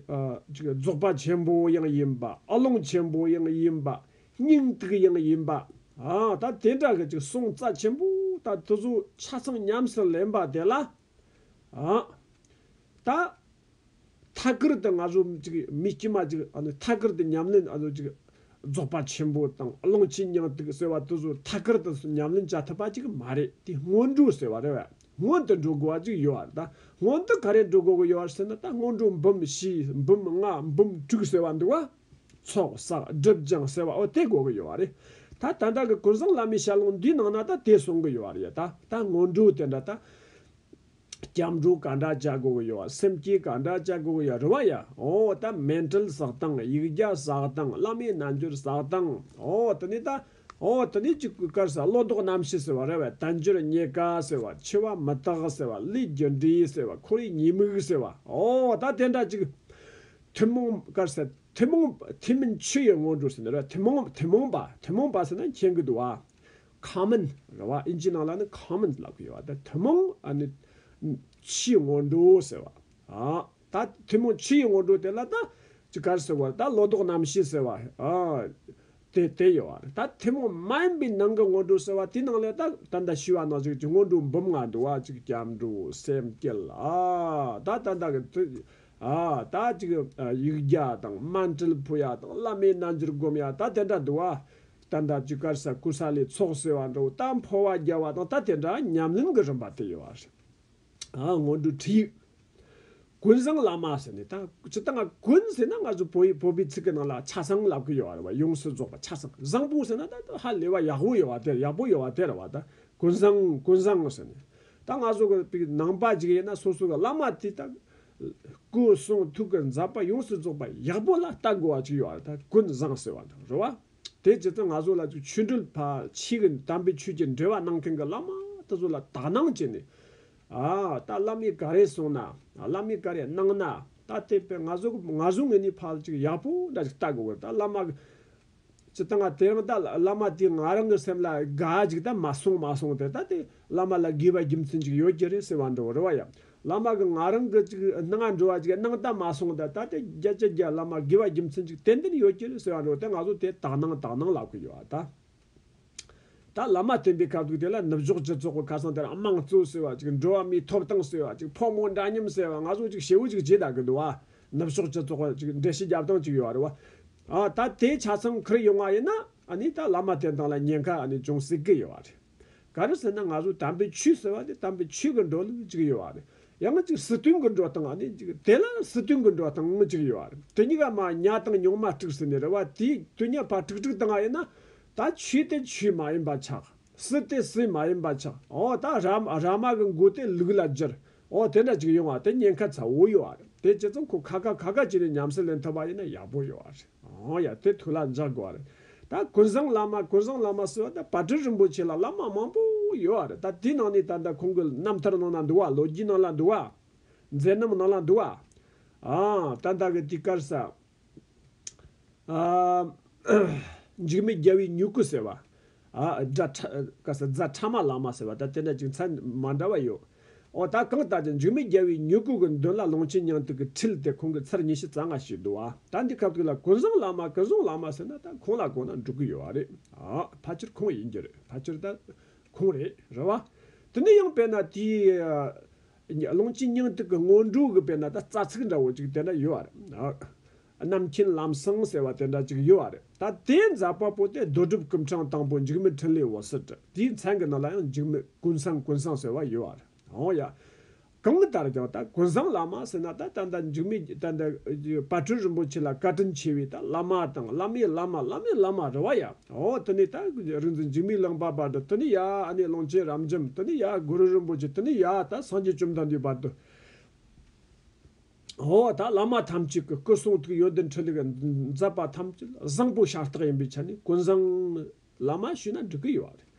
རྫོགས་པ་ཆེན་པོ་ཡང་ཡིན་པ་ཨ་ལོང་ཆེན་པོ་ཡང་ཡིན་པ་སྙིང་ཐིག་ཡང་ཡིན་པ། ཨོ་ད་དེ་འདྲ་གི་ཅིག་སོང་རྩ་ཆེན་པོ་ད་དེ་ཚོ་ཆ་ཚང་ཉམས་སུ་ལེན་པ་དེ་ལ། ཨོ་ད། ཐ་གིར་དུ་ང་ཚོ་ཅིག་མི་དཀྱུས་མ་ཅིག་ཨ་ནི་ཐ་གིར་དུ་ཉམས་ལེན་ཨ་ནི་ཅིག། རྫོགས་པ་ཆེན་པོ་དང་ཨ་ལོང་ཆེན་སྙིང་ཐིག་ཟེར་བ་དེ་ཚོ་ཐ་གིར་དུ་ཉམས་ལེན་བྱ་ཐུབ་པ་ཅིག་མ་རེད་དེ་སྔོན་འགྲོ་ཟེར་བ་རེད་བ། སྔོན་དུ་འགྲོ་དགོས་བ་གཅིག་ཡོད་བར་ད་སྔོན་དུ་ག་རེ་འགྲོ་དགོས་གི་ཡོད་བར་ཟེར་ན་ད་སྔོན་འགྲོ་འབུམ་བཞི་འབུམ་ལྔ་འབུམ་དྲུག་ཟེར་བ་འདུག་བ། ཚོགས་བསགས་སྒྲིབ་སྦྱངས་ཟེར་བའོ་དེ་དགོས་གི་ཡོད་བ་རེད། ད་ད་ལྟ་གི་ཀུན་བཟང་བླ་མའི་ཞལ་ལུང་འདིའི་ནང་ན་ད་དེ་གསུང་གི་ཡོད་བ་རེད་ད་ད་སྔོན་འགྲོ་དེ་འདྲ་ད། སྐྱབས་འགྲོ་ག་འདྲ་བྱ་དགོས་གི་ཡོད་བ་སེམས་བསྐྱེད་ག་འདྲ་བྱ་དགོས་གི་ཡོད་རེད་བ་ཡ། ཨོ་ད་སྨན་དྲིལ་བསགས་དང་ཡིག་བརྒྱ་བསགས་དང་བླ་མའི་རྣལ་འབྱོར་བསགས་དང་ཨོ་དེ་ནས་ད། ཨོ་དེ་ནས་གཅིག་པུའི་སྐར་ཟེར་བ་ལོ་ཏོག་རྣམ་ཤེས་ཟེར་བ་ར་བའི་དལ་འབྱོར་རྙེད་དཀའ་ཟེར་བ་འཆི་བ་མི་རྟག་ཟེར་བ་བློས་རྒྱུ་འབྲས་ཟེར་བ་འཁོར་བའི་ཉེས་དམིགས་ཟེར་བ་ཨོ་ད་དེ་འདྲ་གཅིག། ཐུན་མོང་སྐར་ཟེར་ཐུན་མོང་ཐུན་མིན་ཆུ་ཡི་སྔོན་འགྲོ་ཟེར་ནི་ར་བ་ཐུན་མོང་ཐུན་མོང་པ་ཐུན་མོང་པ་ཟེར་ན་མཁྱེན་གི་འདུག་ཨ། Common ར་བ་ཨིན་ཇིའི་ནང་ལ་ནི Common ལབ་གི་ཡོད་བ་དེ་ཐུན་མོང་ཨ་ནི་ཆུའི་སྔོན་འགྲོ་ཟེར་བ་ཨ། ད་ཐུན་མོང་ཕྱི་ཡི་ངོ་སྤྲོད་དེ་ལ་ད་ཅི་གར་ཟེར་བར་ད་ལོ་ཏོག་རྣམ་ཤེས་ཟེར་བ། དེ་དེ་ཡོད་བར་ད་ཐུན་མོང་མ་ཡིན་པའི་ནང་གི་ངོ་སྤྲོད་ཟེར་བ་དེའི་ནང་ལས་ད་ད་ལྟ་ཤི་བ་ན་ཟུག་ཅིག་ངོ་སྤྲོད་འབུམ་ལྔ་འདུ་བ་ཅིག་སྐྱབས་འགྲོ་སེམས་བསྐྱེད་ལ་ད་ད་ད་གི་ད་ད་ཅིག་ཡིག་བརྒྱ་དང་སྨན་སྤྲུལ་ཕུ་ཡ་དང་བླ་མའི་རྣལ་འབྱོར་བསྒོམ་ཡ་ད་དེ་འདྲ་འདུ་བ། ད་ད་ཅི་གར་ཟ་ཀུ་ས་ལའི་ཚོགས་ཟེར་བ་འདྲ་བོ་ད་འཕོ་བ་རྒྱལ་བ་དང་ད་དེ་འདྲ་ཉམས་ལེན་གྱི་རིམ་པ་དེ་ཡོད་བར་ང་སྔོན་འགྲོའི་ཁྲིད་ཡིག་ཀུན་བཟང་བླ་མ་ཟེར་ནས་ད་ཇི་ལྟ་ང་ཀུན་ཟེར་ན་ང་ཚོ་བོད་ཡིག་བོད་པའི་ཚིག་གི་ནང་ལ་ཆ་ཚང་ལབ་གི་ཡོད་རེད་བ་ཡོངས་སུ་རྫོགས་པ་ཆ་ཚང་བཟང་པོ་ཟེར་ན་ད་ཧ་ལས་བ་ཡག་པོ་ཡོད་བ་དེར་ཡག་པོ་ཡོད་བ་དེར་བ་ད་ཀུན་བཟང་ཀུན་བཟང་ཟེར་ནས་ད་ང་ཚོ་གི་པའི་ནང་པ་ཇིག་ཡིན་ན་སོ་སོ་གི་བླ་མ་དེ་ད་སྐུ་གསུང་ཐུགས་ཀི་མཛད་པ་ཡོངས་སུ་རྫོགས་པ་ཡག་པོ་ལ་ལྟ་དགོས་བ་ཅིག་ཡོད་རེད་ད་ཀུན་བཟང་ཟེར་བ་དང་རེད་བ་དེ་ཇི་ལྟར་ང་ཚོ་ལ་ཆོས་འབྲེལ་བ་ཕྱི་གི་དམ་པའི་ཆོས་ཀྱི་འབྲེལ་བ་གནང་མཁན་གི་བླ་མ་དེ་ཚོ་ལ་དག་སྣང་བྱས་ནས་ཨ། ད་བླ་མས་ག་རེ་གསུངས་ན། བླ་མས་ག་རེ་གནང་ན། ད་དེ་པས་ང་ཟུག་ང་ཟུག་ངེད་གཉིས་ཕལ་ཅིག་ཡག་པོ་འདྲ་ཞིག་བལྟ་དགོས་གི་ད་བླ་མ། ཇི་ལྟ་ང་དེ་རང་ད་བླ་མ་དེས་ང་རང་གི་སེམས་ལ་དགའ་ཅིག་ད་མ་སོང་མ་སོང་དེ་ད་དེ་བླ་མ་ལ་དགོས་པ་རྒྱུ་མཚན་ཅིག་ཡོད་ཀྱི་རེད་ཟེར་བ་འདྲ་རེད་བ་ཡ། བླ་མ་གི་ང་རང་གི་ཅིག་གནང་འགྲོ་བ་ཅིག་གནང་ད་མ་སོང་ད་ད་དེ་རྒྱ་ཇེ་རྒྱ་བླ་མ་དགོས་པ་རྒྱུ་མཚན་ཅིག་ཏན་ཏན་ཡོད་ཀྱི་རེད་ཟེར་བ་འདྲ་རེད་དེ་ང་ཟུག་དེ་དག་གནང་དག་གནང་ལབ་གི་ཡོད་ད། ད་བླ་མ་བསྟེན་པའི་ཁ་དོག་དེ་ལ་ནུབ་ཕྱོགས་སྤྱི་ཚོགས་ཀྱི་ཁ་སང་དེར་དམངས་གཙོ་ཟེར་བ་ཅིག་འགྲོ་བ་མིའི་ཐོབ་ཐང་ཟེར་བ་ཅིག་ཕོ་མོ་འདྲ་མཉམ་ཟེར་བ་ང་ཚོ་ཅིག་བྱེའུ་ཅིག་རྗེས་དྲག་གི་འདུག་ཨ། ནུབ་ཕྱོགས་སྤྱི་ཚོགས་ཅིག་འགྲེལ་བཤད་རྒྱབ་སྟངས་ཅིག་ཡོད་རེད་བ། ཨ་ད་དེ་ཆ་ཚང་ཁུར་ཡོང་བ་ཡིན་ན་ཨ་ནི་ད་བླ་མ་བསྟེན་སྟངས་ལ་ཉེན་ཁ་ཨ་ནི་ཅུང་སྲིད་གི་ཡོད་རེད། ག་རེ་ཟེར་ན་ང་ཚོ་དམ་པའི་ཆོས་ཟེར་བ་ནི་དམ་པའི་ཆོས་ཀྱི་འགྲོ་ལུགས་གཅིག་ཡོད་བ་རེད། ཡང་གཅིག་སྲིད་དོན་གྱི་འགྲོ་སྟངས་ནི་གཅིག་དེ་ལ་སྲིད་དོན་གྱི་འགྲོ་སྟངས་གཅིག་ཡོད་བ་རེད། དེ་གཉིས་ཀ་མ་ཉག་དང་ཉུང་མ་དཀྲུགས་ཟེར་ནི་རེད་བ་དེའི་དུས་ཉག་ཕ་དཀྲུགས་དཀྲུགས་སྟངས་ཡིན་ན། ད་ཆོས་དེ་ཆོས་མ་ཡིན་པ་ཆགས། སྲིད་དེ་སྲིད་མ་ཡིན་པ་ཆགས་ཨོ་ད་ར་མ་ར་མ་གི་མགོ་དེ་ལུག་ལ་བསྒྱུར། ཨོ་དེ་འདྲ་གཅིག་ཡོང་བ་དེ་ཉེན་ཁ་ཚ་བོ་ཡོད་བ་རེད་དེ་ཇི་ཙམ་ཁོ་ཁ་ཁ་ཁ་ཁ་བྱས་ནས་ཉམས་སད་ལེན་ཐུབ་པ་ཡིན་ན་ཡག་པོ་ཡོད་བ་རེད། ཨོ་ཡ་དེ་ཐུགས་ལ་འཇགས་དགོས་བ་རེད་ད་ཀུན་བཟང་བླ་མ་ཀུན་བཟང་བླ་མ་ཟེར་བ་ད་བ་དྲུག་རིན་པོ་ཆེ་ལ་བླ་མ་མང་པོ་ཡོད་བ་རེད་ད་དེའི་ནང་ནས་ད་ལྟ་ཁོང་གི་རྣམ་ཐར་ནང་ན་འདུག་བ་ལོ་རྒྱུས་ནང་ལ་འདུག་བ། མཛད་རྣམ་ནང་ལ་འདུག་བ། ཨང་ད་ད་གི་དུས་སྐར་ས། འཇིགས་མེད་རྒྱལ་བའི་མྱུ་གུ་ཟེར་བ། རྫ་ཕྲ་མ་ལ་མ་ཟེར་བ་ལྟར་དེ་འདྲ་ཅིག་མཚན་མ་འདྲ་བ་ཡོད། འོ་ད་གང་ལྟར་ཀྱང་འཇུ་མི་རྒྱལ་བའི་མྱུ་གུ་གི་མདུན་ལ་ལོངས་སྤྱོད་ཉང་ཐུག་གི་ཁྲིལ་དེ་ཁོང་གི་ཚར་ཉི་ཤུ་རྩ་ལྔ་ཞིག་འདུག་བ་ད་འདི་ག་དུས་ལ་གོ་བཟང་ལ་མ་གོ་བཟང་ལ་མ་ཟེར་ན་ད་ཁོང་ལ་གོ་ན་འགྲིག་གི་ཡོད་བ་རེད། ཕ་ཆེར་ཁོང་ཡིན་རྒྱུ་རེད་ཕ་ཆེར་ད་ཁོང་རེད་རེད་བ། དེ་ནས་ཡང་དཔེར་ན་དེའི་ལོངས་སྤྱོད་ཉང་ཐུག་གི་སྔོན་འགྲོ་གི་དཔེར་ན་ད་རྩ་ཚིག་འདྲ་བོ་ཅིག་དེ་འདྲ་ཡོད་བ་རེད། རྣམ་མཁྱེན་ལམ་བཟང་ཟེར་བ་དེ་འདྲ་ཅིག་ཡོད་བ་རེད་ད་དེ་མཛད་པ་པོ་དེ་རྡོ་གྲུབ་སྐུ་འཕྲང་དང་པོ་འཇིགས་མེད་ཕྲིན་ལས་འོད་ཟེར་བྲི་དེའི་མཚན་གྱི་ནང་ལ་ཡང་འཇིགས་མེད་ཀུན་བཟང་ཀུན་བཟང་ཟེར་བ་ཡོད་བ་རེད་འོང་ཡ། གང་ལྟར་ཀྱང་ད་ཀུན་བཟང་བླ་མ་ཟེར་ན་ད་ད་ལྟ་འཇིགས་མེད་ཀྱི་ད་ད་དཔལ་སྤྲུལ་རིན་པོ་ཆེ་ལ་བཀའ་དྲིན་ཆེ་བའི་ད་བླ་མ་དང་བླ་མའི་བླ་མ་བླ་མའི་བླ་མ་རེད་བ་ཡ། ཨོ་དེ་ནས་ད་རིག་འཛིན་འཇིགས་མེད་གླིང་པ་བར་དུ་དེ་ནས་ཡ་ཨ་ནི་གླིང་ཆེན་རབ་འབྱམས་དེ་ནས་ཡ་གུ་རུ་རིན་པོ་ཆེ་དེ་ནས་ཡ་ད་སངས་རྒྱས་བཅོམ་ལྡན་འདས་བར་དུ། འོ་ད་བླ་མ་ཐམས་ཅད་ཀྱི་སྐུ་གསུང་ཐུགས་ཡོན་ཏན་འཕྲིན་ལས་མཛད་པ་ཐམས་ཅད་བཟང་པོ་ཤ་སྟག་ཡིན་པའི་ཆ་ནས་ཀུན་བཟང་ནི་བླ་མ་ཞུས་ན་འགྲིག་གི་ཡོད་རེད།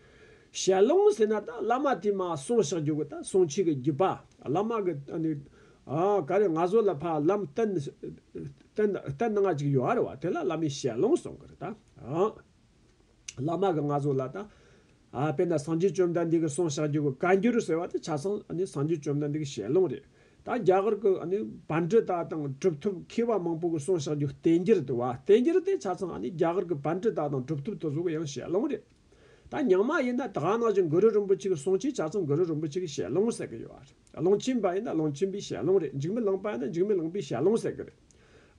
ཞལ་ལུང་ཟེར་ན་ད་བླ་མ་དེས་མ་གསུངས་ཤག་རྒྱུགས་ད་གསུང་ཆོས་ཀྱི་རྒྱུད་པ་བླ་མ་གི་ད་ནི་ག་རེ་ང་བཟོ་ལ་ཕ་ལམ་བསྟན་བསྟན་ང་ཅིག་ཡོད་རེད་བ་དེ་ལ་བླ་མའི་ཞལ་ལུང་གསུང་གི་རེད་ད། བླ་མ་གི་ང་བཟོ་ལ་ད། དཔེར་ན་སངས་རྒྱས་བཅོམ་ལྡན་འདས་ཀྱི་གསུང་བཤགས་རྒྱུད་ཀྱི་བཀའ་འགྱུར་ཟེར་བ་དེ་ཆ་ཚང་སངས་རྒྱས་བཅོམ་ལྡན་འདས་ཀྱི་ཞལ་ལུང་རེད། ད་རྒྱ་གར་གྱི་བན་དྲུ་དག་དང་གྲུབ་ཐོབ་མཁས་པ་མང་པོ་གྱི་གསུང་བཤགས་རྒྱུད་བསྟན་འགྱུར་དུ་བ་བསྟན་འགྱུར་དེ་ཆ་ཚང་རྒྱ་གར་གྱི་བན་དྲུ་དག་དང་གྲུབ་ཐོབ་དེ་ཚོ་གི་ཡང་ཞལ་ལུང་རེད། ད་ཉག་མ་ཡིན་ན་དགའ་ནག་ཅིང་གུ་རུ་རིན་པོ་ཆེ་གྱི་གསུང་ཆེ་ཆ་ཚང་གུ་རུ་རིན་པོ་ཆེ་གྱི་ཞལ་ལུང་ཟེར་གྱི་ཡོད། ཀློང་ཆེན་པ་ཡིན་ན་ཀློང་ཆེན་པའི་ཞལ་ཀློང་རེད་འཇིགས་མི་ལངས་པ་ཡིན་ན་འཇིགས་མི་ལངས་པའི་ཞལ་ཀློང་ཟེར་གི་རེད།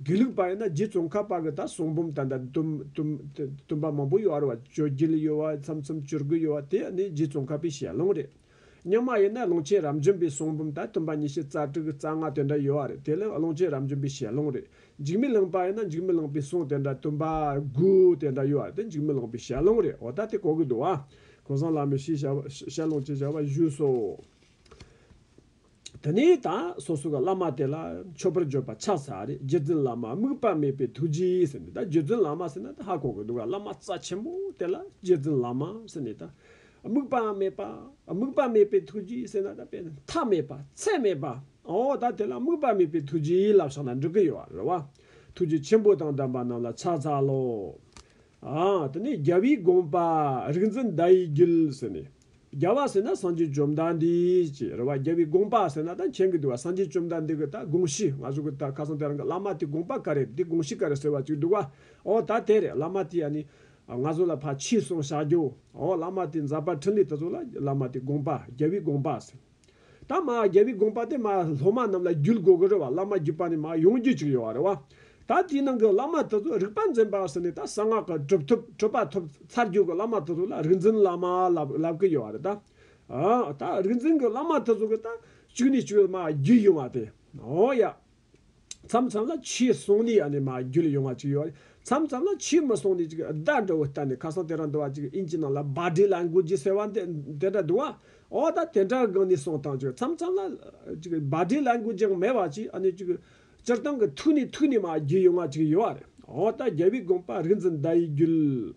དགེ་ལུགས་པ་ཡིན་ན་རྗེ་ཙོང་ཁ་པ་གི་ད་གསུང་འབུམ་ད་ལྟ་བཏུམ་པ་མང་པོ་ཡོད་རེད་བ་བཅོ་བརྒྱད་ཡོད་བ་མཚམས་མཚམས་བཅོ་དགུ་ཡོད་བ་དེ་ནི་རྗེ་ཙོང་ཁ་པའི་ཞལ་ཀློང་རེད། རྙིང་མ་ཡིན་ན་ཀློང་ཆེན་རབ་འབྱམས་པའི་གསུང་འབུམ་ད་བཏུམ་པ་ཉི་ཤུ་རྩ་དྲུག་རྩ་ལྔ་དེ་འདྲ་ཡོད་བ་རེད་དེ་ལ་ཀློང་ཆེན་རབ་འབྱམས་པའི་ཞལ་ཀློང་རེད། འཇིགས་མི་ལངས་པ་ཡིན་ན་འཇིགས་མི་ལངས་པའི་གསུང་དེ་འདྲ་བཏུམ་པ་དགུ་དེ་འདྲ་ཡོད་བ་དེ་འཇིགས་མི་ལངས་པའི་ཞལ་ཀློང་རེད་འོ་ད་དེ་གོ་གི་འདུག་བ། ཁོང་སང་ལ་མི་ཤེས་ཞལ་ཀློང་ཅེས་བྱ་བ་བཞུགས་སོ། དེ་ནས་ད་སོ་སོ་ག་བླ་མ་དེ་ལ་མཆོད་པར་བརྗོད་པ་ཆགས་ཚར་རེད་རྗེ་བཙུན་བླ་མ་དམིགས་པ་མེད་པའི་ཐུགས་རྗེའི་ཟེར་ནས་ད་རྗེ་བཙུན་བླ་མ་ཟེར་ན་ད་ཧ་གོ་གི་འདུག་ག་བླ་མ་རྩ་ཆེན་པོ་དེ་ལ་རྗེ་བཙུན་བླ་མ་ཟེར་ནས་ད་དམིགས་པ་མེད་པ་དམིགས་པ་མེད་པའི་ཐུགས་རྗེའི་ཟེར་ན་ད་དཔེ་མཐའ་མེད་པ་ཚད་མེད་པ་ཨོ་ད་དེ་ལ་དམིགས་པ་མེད་པའི་ཐུགས་རྗེའི་ལབ་ཤག་ན་འགྲོ་གི་ཡོད་རེད་བ་ཐུགས་རྗེ་ཆེན་པོ་དང་ལྡན་པ་རྣམས་ལ་ཕྱག་འཚལ་ལོ། དེ་ནས་རྒྱལ་བའི་དགོངས་པ། རིག་འཛིན་བརྡ་ཡི་རྒྱུད་ཟེར་ནས། རྒྱལ་བ་ཟེར་ན་སངས་རྒྱས་བཅོམ་ལྡན་འདས་ཀྱི་རེ་བ་རྒྱལ་བའི་དགོངས་པ་ཟེར་ན་ད་མཁྱེན་གི་འདུག་བ་སངས་རྒྱས་བཅོམ་ལྡན་འདས་ཀྱི་ད་དགོངས་གཞི་ང་ཚོ་གི་ད་ཁ་སང་དེ་རང་གི་བླ་མ་དེ་དགོངས་པ་ག་རེད་དེ་དགོངས་གཞི་ག་རེད་ཟེར་བ་ཅིག་འདུག་བ་ཨོ་ད་དེ་རེད་བླ་མ་དེ་ཡ་ནི། ང་ཚོ་ལ་ཕ་ཕྱིས་སོང་བཞག་རྒྱོ་ཨོ་བླ་མ་དེ་འཛག་པ་ཕྲིན་ལས་དེ་ཚོ་ལ་བླ་མ་དེ་དགོངས་པ་རྒྱལ་བའི་དགོངས་པ་ཟེར། ད་མ་རྒྱལ་པོའི་དགོངས་པ་དེ་མ་སློབ་མ་རྣམས་ལ་བརྒྱུད་དགོས་ཀྱི་རེད་བ་བླ་མ་བརྒྱུད་པ་ནི་མ་ཡོང་རྒྱུ་ཅིག་ཡོད་བ་རེད་བ། ད་དེའི་ནང་གི་བླ་མ་དེ་ཚོ་རིག་པ་འཛིན་པ་ཟེར་ནས་ད་གསང་སྔགས་ཀྱི་གྲུབ་ཐོབ་གྲུབ་པ་ཐོབ་ཚར་རྒྱུ་གི་བླ་མ་དེ་ཚོ་ལ་རིག་འཛིན་བླ་མ་ལབ་ཀྱི་ཡོད་བ་རེད་ད། ད་རིག་འཛིན་གྱི་བླ་མ་དེ་ཚོ་གི་ད་བཅུ་ནས་བཅུ་བའི་མ་བརྒྱུད་ཡིན་བ་དེ། ཨོ་ཡ། མཚམས་མཚམས་ལ་ཆུའི་སྲུང་ནི་ཡང་ནི་མ་རྒྱུད་ལ་ཡོང་བ་ཅིག་ཡོད། མཚམས་མཚམས་ལ་ཆུའི་མི་སྲུང་ནི་ཅིག་བདག་འགྲོ་བའི་རྟ་ནི་ཁ་སང་དེ་རང་འདུལ་བ་ཅིག་ཨིན་ཅི་ནང་ལ་སྦ་བྲིས་ལ་མགུལ་གྱིས་སེར་བ་འདི་དེ་འདྲ་འདུལ་བ། འོ་ད་དེ་འདྲ་གང་ནས་སྲུང་དང་ཅིག་མཚམས་མཚམས་ལ། ཅིག་སྦ་བྲིས་ལ་མགུལ་གྱིས་མེ་བ་ཅིག་ཨ་ནི་ཅིག། སྤྱིར་བཏང་གི་ཐུགས་ནི་ཐུགས་ནི་མ་རྒྱུད་ཡོང་བ་ཅིག་ཡོད། འོ་ད་རྒྱལ་བའི་དགོངས་པ་རིག་འཛིན་བརྡ་ཡི་རྒྱུད།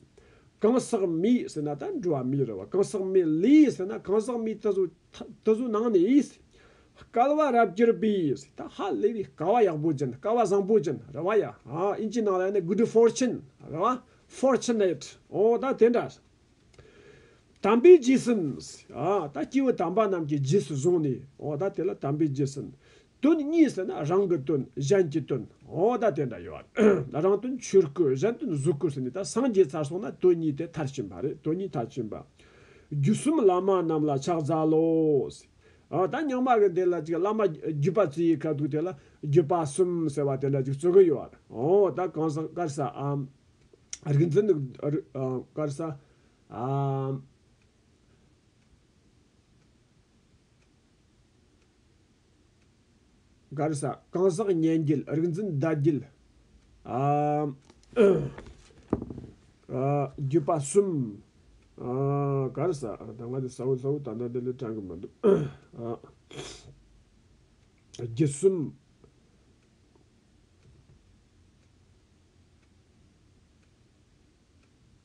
གང་ཟག་མེད་ཟེར་ན་ད་འགྲོ་བ་མེད་རེད་བ་གང་ཟག་མེད་ལས་ཟེར་ན་གང་ཟག་མེད་དེ་ཟུག་དེ་ཟུག་ནང་ནས་ཨིས། སྐལ་བ་རབ་གྱུར་པས་ད་ཧ་ལས་པའི་སྐལ་བ་ཡག་པོ་ཅན་སྐལ་བ་བཟང་པོ་ཅན་རེད་བ་ཡ་ཨིན་ཇིའི་ནང་ལ་ཡོད་ནི good fortune རེད་བ fortunate ཨོ་ད་དེ་འདྲ། དམ་པའི་རྗེས་ཟིན་ཨ་ད་སྐྱེས་བུ་དམ་པ་རྣམས་ཀྱི་རྗེས་སུ་བཟུང་ནས་ཨོ་ད་དེ་ལ་དམ་པའི་རྗེས་ཟིན། དོན་གཉིས་ཟེར་ན་རང་གི་དོན་གཞན་གྱི་དོན་ཨོ་ད་དེ་འདྲ་ཡོད་བ། རང་དོན་ཆོས་སྐུ་གཞན་དོན་གཟུགས་སྐུ་ཟེར་ནས་ད་སངས་རྒྱས་ཚར་སོང་ན་དོན་གཉིས་དེ་མཐར་ཕྱིན་པ་རེད་དོན་གཉིས་མཐར་ཕྱིན་པ། བརྒྱུད་གསུམ་བླ་མ་རྣམས་ལ་ཕྱག་འཚལ་ལོ། ད་ཉག་མ་གི་དེ་ལ་ཅིག་བླ་མ་བརྒྱུད་པ་ཚུལ་ཡིས་ཁ་ཐུག་དེ་ལ་བརྒྱུད་པ་གསུམ་ཟེར་བ་དེ་འདྲ་ཅིག་རྩོད་གི་ཡོད་རེད་ཨོ་ད་གང་ཟག་དཀར་ས་ཨམ། རིག་འཛིན་དཀར་ས་ཨམ། སྒར་ས་གང་ཟག་སྙན་བརྒྱུད་རིག་འཛིན་བརྡ་བརྒྱུད་བརྒྱུད་པ་གསུམ། སྒར་ས་ད་སྔ་དེ་ས་བོན་ས་བོན་ད་ལྟ་དེ་ལས་དྲངས་གི་མི་འདུག་བརྒྱུད་གསུམ།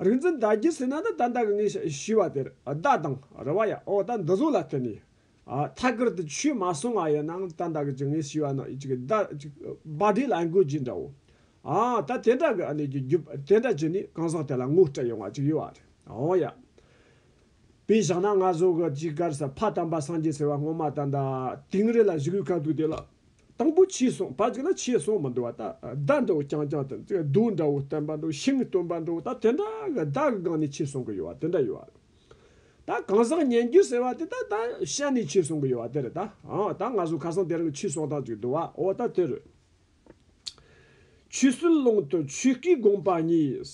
རིག་འཛིན་བདག་བསྐྱེད་ཟིན་ན་ནི་ད་ལྟ་གི་ངས་ཞུས་བ་དེར་བདག་དང་རུ་བ་ཡང་འོ་ད་འདི་གཟུགས་ལ་བརྟེན་ནས་ཐད་ཀར་དུ་ཆོས་མ་གསུང་བ་ཡིན་ནའང་ད་ལྟ་གི་ངས་ཞུས་བ་ནི་བདག་བསྒྲིགས་ལ་འགོད་ཀྱི་འདྲའོ། ད་དེ་འདྲ་གི་གནད་ཀྱི་རྒྱུ་དེ་འདྲ་བྱས་ནས་གང་ཟག་དེ་ལ་ངོ་སྤྲད་ཡོང་བ་ཅིག་ཡོད་བ་རེད་འོ་ཡ། དཔེ་བཞག་ན་ང་གཟུགས་ཀྱི་དཀར་སེར་ཕ་དམ་པ་སངས་རྒྱས་ཟེར་བ་སྔོན་མ་ད་ལྟ་དིང་རི་ལ་བཞུགས་ཡུལ་ག་དུས་དེ་ལ་དང་པོ་ཕྱིས་སོང་བ་ཅིག་ལ་ཕྱིས་སོང་བ་འདུལ་བ་དང་བདག་འདྲ་བོ་རྐྱང་རྐྱང་དང་གདུགས་འདྲ་བོ་སྟོན་པ་འདྲ་བོ་ཤིང་སྟོན་པ་འདྲ་བོ་ད་དེ་འདྲ་གི་བདག་གི་སྒང་ནས་ཕྱིས་སོང་གི་ཡོད་བ་དེ་འདྲ་ཡོད་ད་གང་ཟག་སྙན་བརྒྱུད་ཟེར་བ་དེ་ད་ད་ཤར་ནས་ཕྱིས་སོང་གི་ཡོད་བ་དེ་རེད་ད་ཨང་ད་ང་ཚོ་ཁ་སང་དེ་རང་གི་ཕྱིས་སོང་དང་ཅིག་འདུལ་བ་འོ་ད་དེ་རེད། ཆོས་སྲིད་ཀློང་དུ་ཆོས་སྐུའི་དགོངས་པ་གཉིས།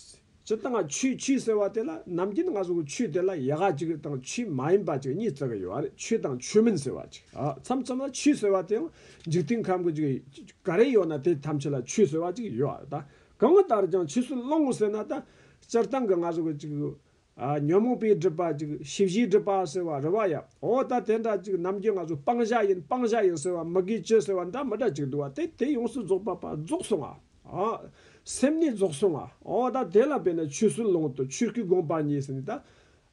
ཇི་ལྟར་ང་ཆུའི་ཆུ་ཟེར་བ་དེ་ལ་ནམ་རྒྱུན་ང་ཚོ་ཆུ་དེ་ལ་ཡག་ཅིག་དང་ཆུ་མ་ཡིན་པ་ཅིག་གཉིས་བརྩི་གི་ཡོད་པ་རེད་ཆུ་དང་ཆུ་མིན་ཟེར་བ་ཅིག་མཚམས་མཚམས་ལ་ཆུ་ཟེར་བ་དེ་ཡང་འཇིག་རྟེན་ཁམས་ཀྱི་ཅིག་ག་རེ་ཡོད་ན་དེ་ཐམས་ཅད་ལ་ཆུ་ཟེར་བ་ཅིག་ཡོད་ཨ་ད་གང་ལྟར་ཀྱང་ཆུ་སྲི་སློང་ངོ་ཟེར་ན་ད་སྤྱིར་བཏང་གི་ང་ཚོ་གི་ཅིག་ཉོན་མོངས་པའི་སྒྲིབ་པ་ཅིག་ཞི་བཞིའི་སྒྲིབ་པ་ཟེར་བ་རེད་བ་ཡ་ཨོ་ད་དེ་འདྲ་ཅིག་ནམ་རྒྱུན་ང་ཚོ་སྤང་བྱ་ཡིན་སྤང་བྱ་ཡིན་ཟེར་བ་མི་དགེ་བཅུ་ཟེར་བ་འདྲ་མི་འདྲ་ཅིག་འདུག་བ་དེ་དེ་ཡོངས་སུ་རྫོགས་པ་པ་རྫོགས་སོང་ཨ། ཨ། སེམས་ནི་རྫོགས་སོ་ང། ཨོ་ད་དེ་ལ་བས་ན་ཆོས་སུ་ལོངས་སྟོབས་ཆོས་སྐུའི་དགོངས་པ་ཉིད་ཟེར་ནས་ད།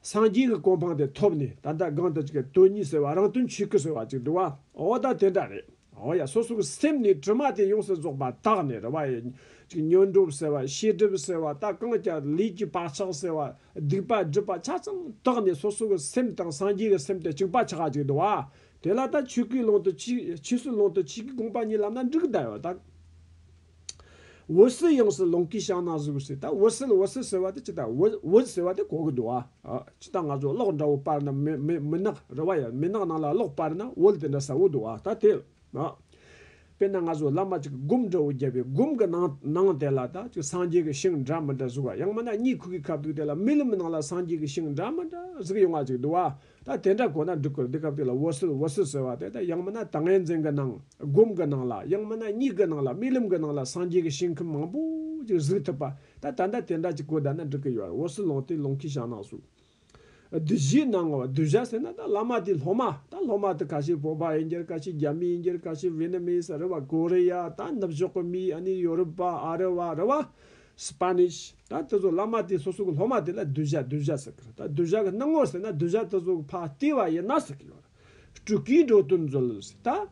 སངས་རྒྱས་ཀྱི་གོ་འཕང་དེ་ཐོབ་ནས་ད་ལྟ་གང་ལྟར་གྱི་དོན་གཉིས་ཟེར་བ་རང་དོན་ཆོས་སྐུ་ཟེར་བ་ཅིག་འདུག་བ། ཨོ་ད་དེ་འདྲ་རེད། ཨོ་ཡ་སོ་སོ་གི་སེམས་ནི་དྲི་མ་དེ་ཡོངས་སུ་རྫོགས་པ་དག་ནི་རེ་བ་ཡི། ཅིག་ཉོན་སྒྲུབ་ཟེར་བ་ཤེས་སྒྲིབ་ཟེར་བ་ད་གང་ལྟར་ལུས་ཀྱི་བག་ཆགས་ཟེར་བ་སྡིག་པ་སྒྲིབ་པ་ཆ་ཚང་དག་ནི་སོ་སོ་གི་སེམས་དང་སངས་རྒྱས་ཀྱི་སེམས་དེ་གཅིག་པ་ཆགས་ཅིག་འདུག་བ། དེ་ལ་ད་ཆོས་གོས་བླང་དུ་ཆོས་སྲོལ་བླང་དུ་ཆོས་ཀྱི་དགོངས་པ་ཉིད་ལམ་ན་འགྲིག་གདའ་བ་དང། འོད་ཟེར་ཡོངས་སུ་ལོངས་སྐུའི་ཞགས་ན་གཟུགས་ཟེར་ད་འོད་ཟེར་འོད་ཟེར་ཟེར་བ་དེ་ཇི་ལྟར་འོད་ཟེར་བ་དེ་གོ་གི་འདུག་ཨ། ཇི་ལྟར་ང་ཚོ་གློག་འདྲ་བོ་སྤར་ན་མི་ནག་རེད་བ་ཡང་མི་ནག་ནང་ལ་གློག་སྤར་ན་འོད་དེ་འདྲ་ཟ་འོ་འདུག་ཨ་ད་དེ། དཔེར་ན་ང་ཚོ་བླ་མ་གཅིག་གི་སྒོམ་འདྲ་བོ་བརྒྱབ་པའི་སྒོམ་གི་ནང་དེ་ལ་ད་ཅིག་སངས་རྒྱས་ཀྱི་ཞིང་འདྲ་མི་འདྲ་གཟུགས་ཨ་ཡང་མིན་ན་གཉིད་ཁུག་གི་ཁབ་ཐུག་དེ་ལ་རྨི་ལམ་ནང་ལ་སངས་རྒྱས་ཀྱི་ཞིང་འདྲ་མི་འདྲ་གཟུགས་ཡོང་བ་ཅིག་འདུག་ཨ། ད་དེ་འདྲ་གོ་ན་འགྲིག་གོ་འདི་སྐབས་དེ་ལ་བོ་སིལ་བོ་སིལ་ཟེར་བ་དེ་ད་ཡང་མིན་ན་ད་ངའི་འཛིན་གི་ནང་སྒོམ་གི་ནང་ལ་ཡང་མིན་ན་སྙིགས་གི་ནང་ལ་རྨི་ལམ་གི་ནང་ལ་སངས་རྒྱས་ཀྱི་ཞིང་ཁམས་མང་པོ་ཅིག་གཟིགས་ཐུབ་པ་ད་ད་ད་དེ་འདྲ་ཅིག་གོ་བསྡད་ན་འགྲིག་གི་ཡོད་བོ་སིལ་ལོང་དེ་ལོང་གིས་བཞག་ནང་ཟུག་བདུད་བཞིའི་ནང་ངོ་བདུད་བཞག་ཟེར་ན་ད་བླ་མ་དེ་སློབ་མ་ད་སློབ་མ་དེ་ག་ཤེད་བོད་པ་ཡིན་འགྱུར་ག་ཤེད་རྒྱ་མི་ཡིན་འགྱུར་ག་ཤེད་བེ་ནི་མི་ཡིན་ས་རི་བ་ཀོ་རི་ཡ་ད་ནུབ་ཕྱོགས་ཀྱི་མི་ཨ་ནི་ཡོ་རུབ་པ་ཨ་རི་བ་རི་བ Spanish། ད་དེ་ཚོ་བླ་མ་དེ་སོ་སོ་གི་སློབ་མ་དེ་ལ་གདུལ་བྱ་གདུལ་བྱ་ཟེར་གི་རེད་ད་གདུལ་བྱ་གི་སྣང་ངོར་ཟེར་ན་གདུལ་བྱ་དེ་ཚོ་གི་ཕ་ལྟེ་བ་ཡིན་ན་ཟེར་གི་ཡོད་རེད། སྤྲུལ་སྐུའི་འགྲོ་དོན་མཛོད་ལ་ཟེར་ད།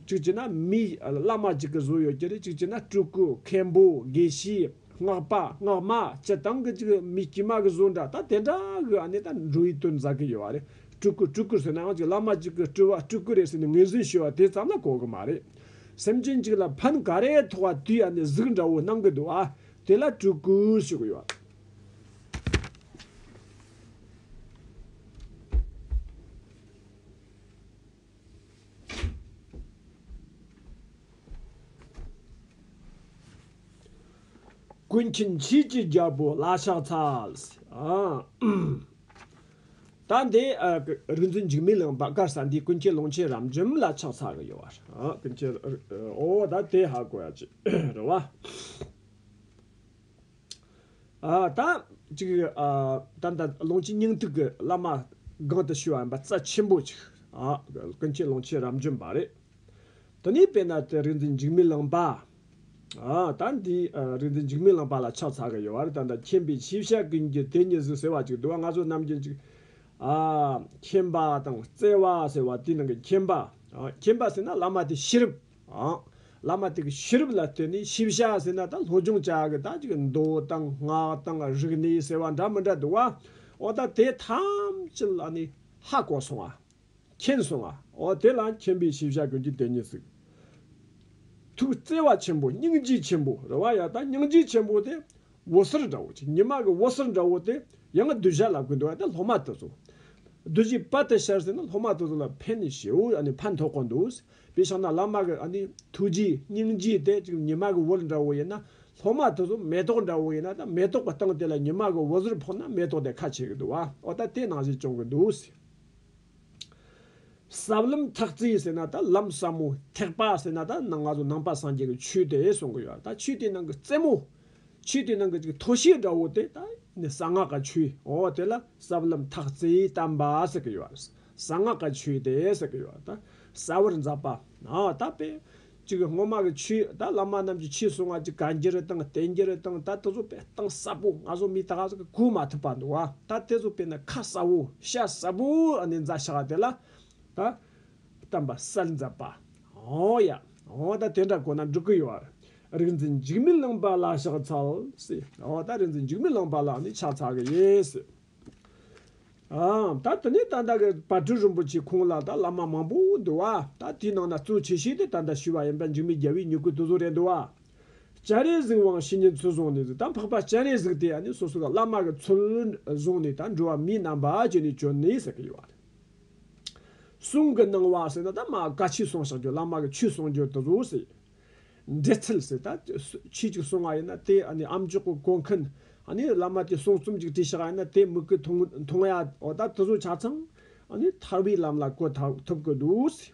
གཅིག་བྱས་ན་མིའི་བླ་མ་གཅིག་གི་གཟུགས་ཡོད་ཀྱི་རེད་གཅིག་བྱས་ན་སྤྲུལ་སྐུ་མཁན་པོ་དགེ་བཤེས་སྔགས་པ་སྔགས་མ་སྤྱི་བཏང་གི་གཅིག་མི་དཀྱུས་མ་གི་གཟུགས་འདྲ་ད་དེ་འདྲ་གི་ཨ་ནེ་ད་འགྲོ་བའི་དོན་མཛད་གི་ཡོད་རེད་སྤྲུལ་སྐུ་སྤྲུལ་སྐུ་ཟེར་ནའང་གཅིག་བླ་མ་གཅིག་གི་སྤྲུལ་བ་སྤྲུལ་སྐུ་རེད་ཟེར་ནས་ངེས་ཟིན་ཞུ་བ་དེ་ཙམ་ལ་གོ་གི་མ་རེད། སེམས་ཅན་གཅིག་ལ་ཕན་ག་རེ་ཐོགས་བ་དུས་ཡ་ནས་གཟུགས་འདྲ་བོ་སྣང་གི་འདུག་ཨ། དེ་ལ་སྤྲུལ་སྐུ་ཞུགས་ཡོད་ཨ། ཀུན་མཁྱེན་བྱེས་ཀྱི་རྒྱལ་པོ་བླ་ཤགས་ཚ། ད་འདི་རིག་འཛིན་འཇིགས་མེད་ལུང་པ་གར་ས་འདིའི་ཀུན་མཁྱེན་ལུང་ཆེན་རབ་འབྱམས་ལ་ཕྱག་འཚལ་གི་ཡོད། ཀུན་མཁྱེན་ཨོ་ད་དེ་ཧ་གོ་ཡ་ཅི་རེད་བ། ད་ཅིག་ད་ལྟ་ལུང་ཆེན་སྙིང་ཐིག་གི་བླ་མ་སྒང་དུ་ཞུ་བ་ཡིན་པ་རྩ་ཆེན་པོ་ཅིག་ཀུན་མཁྱེན་ལུང་ཆེན་རབ་འབྱམས་པ་རེད། དེ་ནས་དཔེར་ན་དེ་རིག་འཛིན་འཇིགས་མེད་ལུང་པ། ད་འདི་རིགས་འདི་འཇིགས་མེད་ལང་པ་ལ་ཕྱག་འཚལ་གི་ཡོད་རེད་ད་ལྟ་མཁྱེན་པའི་ཆེ་བཤད་ཀུན་གྱི་དེ་ཉིད་ཟུག་ཟེར་བ་ཅིག་འདུག་ང་ཚོ་རྣམས་ཀྱི་འཇིགས། མཁྱེན་པ་དང་བརྩེ་བ་ཟེར་བ་དེའི་ནང་གི་མཁྱེན་པ། མཁྱེན་པ་ཟེར་ན་བླ་མ་དེའི་ཤེས་རབ། བླ་མ་དེ་གི་ཤེས་རབ་ལ་བརྟེན་ནས་ཤེས་བྱ་ཟེར་ན་ད་སློབ་སྦྱོང་བྱ་གི་ད་ཅིག་མདོ་དང་སྔགས་དང་རིག་གནས་ཟེར་བ་འདྲ་མི་འདྲ་འདུག་བ། འོ་ད་དེ་ཐམས་ཅད་ལ་ནི་ཧ་གོ་སོང་བ། མཁྱེན་སོང་ང། འོ་དེ་ལ་མཁྱེན་པའི་ཤེས་བྱ་ཀུན་གྱི་དེ་ཉིད་གཟིགས། ཐུགས་བརྩེ་བ་ཆེན་པོ་སྙིང་རྗེ་ཆེན་པོ་རེ་བ་ཡང་དག་སྙིང་རྗེ་ཆེན་པོ་དེ་འོད་ཟེར་འདྲ་བོ་ཅིག་ཉི་མ་གི་འོད་ཟེར་འདྲ་བོ་དེ་ཡང་གདུལ་བྱ་ལ་ཀུན་འདུལ་བ་དེ་སློབ་མ་དེ་ཚོ་གདུལ་བྱའི་དཔལ་དེ་ཤར་ཟིན་ན་སློབ་མ་དེ་ཚོ་ལ་ཕན་ནི་བྱེའུ་ཕན་ཐོགས་ཀོ་འདུག་དེ་ཕྱིར་ན་བླ་མ་གི་ཐུགས་རྗེ་སྙིང་རྗེ་དེ་ཅིག་ཉི་མ་གི་འོད་འདྲ་བོ་ཡིན་ན་སློབ་མ་དེ་ཚོ་མེ་ཏོག་འདྲ་བོ་ཡིན་ན་ད་མེ་ཏོག་གི་སྟེང་དེ་ལ་ཉི་མ་གི་འོད་ཟེར་ཕོག་ན་མེ་ཏོག་དེ་ཁ་ཕྱེ་གི་འདུག་བ་འོ་ད་དེ་ནང་བཞིན་སྐྱོང་གི་འདུག། ཟབ་ལམ་ཐག་རྩིས་ཟེར་ན་ད་ལམ་ཟབ་མོ་ཐེག་པ་ཟེར་ན་ད་ནང་ང་ཚོ་ནང་པ་སངས་རྒྱས་ཀྱི་ཆོས་དེ་གསུང་གི་ཡོད་ད་ཆོས་དེའི་ནང་གི་རྩེ་མོ། ཆོས་དེའི་ནང་གི་ཅིག་མཐོ་ཤོས་འདྲ་བོ་དེ་ད་ནི་གསང་སྔགས་ཀྱི་ཆོས་འོ་དེ་ལ་ཟབ་ལམ་ཐག་རྩིས་དམ་པ་ཟེར་གི་ཡོད། གསང་སྔགས་ཀྱི་ཆོས་དེ་ཟེར་གི་ཡོད་ད་གསལ་བར་མཛད་པ། ད་དཔེ་གཅིག་སྔོན་མ་གི་ཆོས་ད་བླ་མ་རྣམས་ཀྱི་ཆོས་གསུང་བ་གཅིག་གང་རྒྱུ་རུ་དང་བསྟན་རྒྱུ་རུ་དང་ད་དེ་ཚོ་པའི་གཏིང་ཟབ་པོ་ང་ཚོ་མི་དག་གིས་གོ་མ་ཐུབ་པ་འདུག་བ་ད་དེ་ཚོ་པའི་ནི་ཁ་གསབ་བོ་ཤ་གསབ་བོ་ཨ་ནི་འཛའ་ཤ་བ་དེ་ལ་ད་བསྟན་པ་གསལ་འཛབ་པ་ཧོ་ཡ་ཧོ་ད་དེ་འདྲ་གོ་ན་འགྲིག་གི་ཡོད་རིག་འཛིན་འཇིགས་མེད་གླིང་པ་ལ་ཕྱག་འཚལ་སིའོ་ད་རིག་འཛིན་འཇིགས་མེད་གླིང་པ་ལ་ནི་ཕྱག་འཚལ་གི་ཡོད་སིའོ། ཨང། ད་དེ་ནས་ད་ལྟ་གི་བར་དྲུང་རིན་པོ་ཆེ་ཁོང་ལ་ད་བླ་མ་མང་པོ་འདུག་ཨ། ད་དེའི་ནང་ན་གཙོ་ཆེ་ཤོས་དེ་ད་ལྟ་ཞུས་པ་ཡིན་པ་འཇིགས་མེད་རྒྱལ་བོའི་མྱུ་གུའི་སྟོད་ཚོགས་རེད་འདུག་ཨ། སྤྱན་རས་གཟིགས་དབང་བྱེད་ཉིན་ཚུལ་བཟུང་ནས་ད་འཕགས་པ་སྤྱན་རས་གཟིགས་དེ་ནི་སོ་སོ་གི་བླ་མ་གི་ཚུལ་བཟུང་ནས་ད་འགྲོ་བ་མིའི་རྣམ་པ་ཅན་ནས་བྱོན་ནས་ཟེར་གྱི་ཡོད་ཨ། གསུང་གི་སྣང་བ་ཟེར་ན་ད་མ་ག་ཆོས་གསུང་བྱ་རྒྱུ་བླ་མ་གི་ཆོས་གསུང་རྒྱུ་དེ་ཚོ་ཟེར། འབྲེལ་ཚུལ་ཟེར་ད་ཁྱི་གཅིག་སོང་ང་ཡིན་ན་དེ་ཨམ་ཅོག་གི་གོ་མཁན་བླ་མ་དེ་གསུང་རྩོམ་གཅིག་བྲིས་ཤག་ཡིན་ན་དེ་མིག་གི་མཐོང་ཡ་འོ་ད་དེ་ཚོ་ཆ་ཚང་ཐར་བའི་ལམ་ལ་གོ་ཐུབ་གི་འདུག་ཟེར།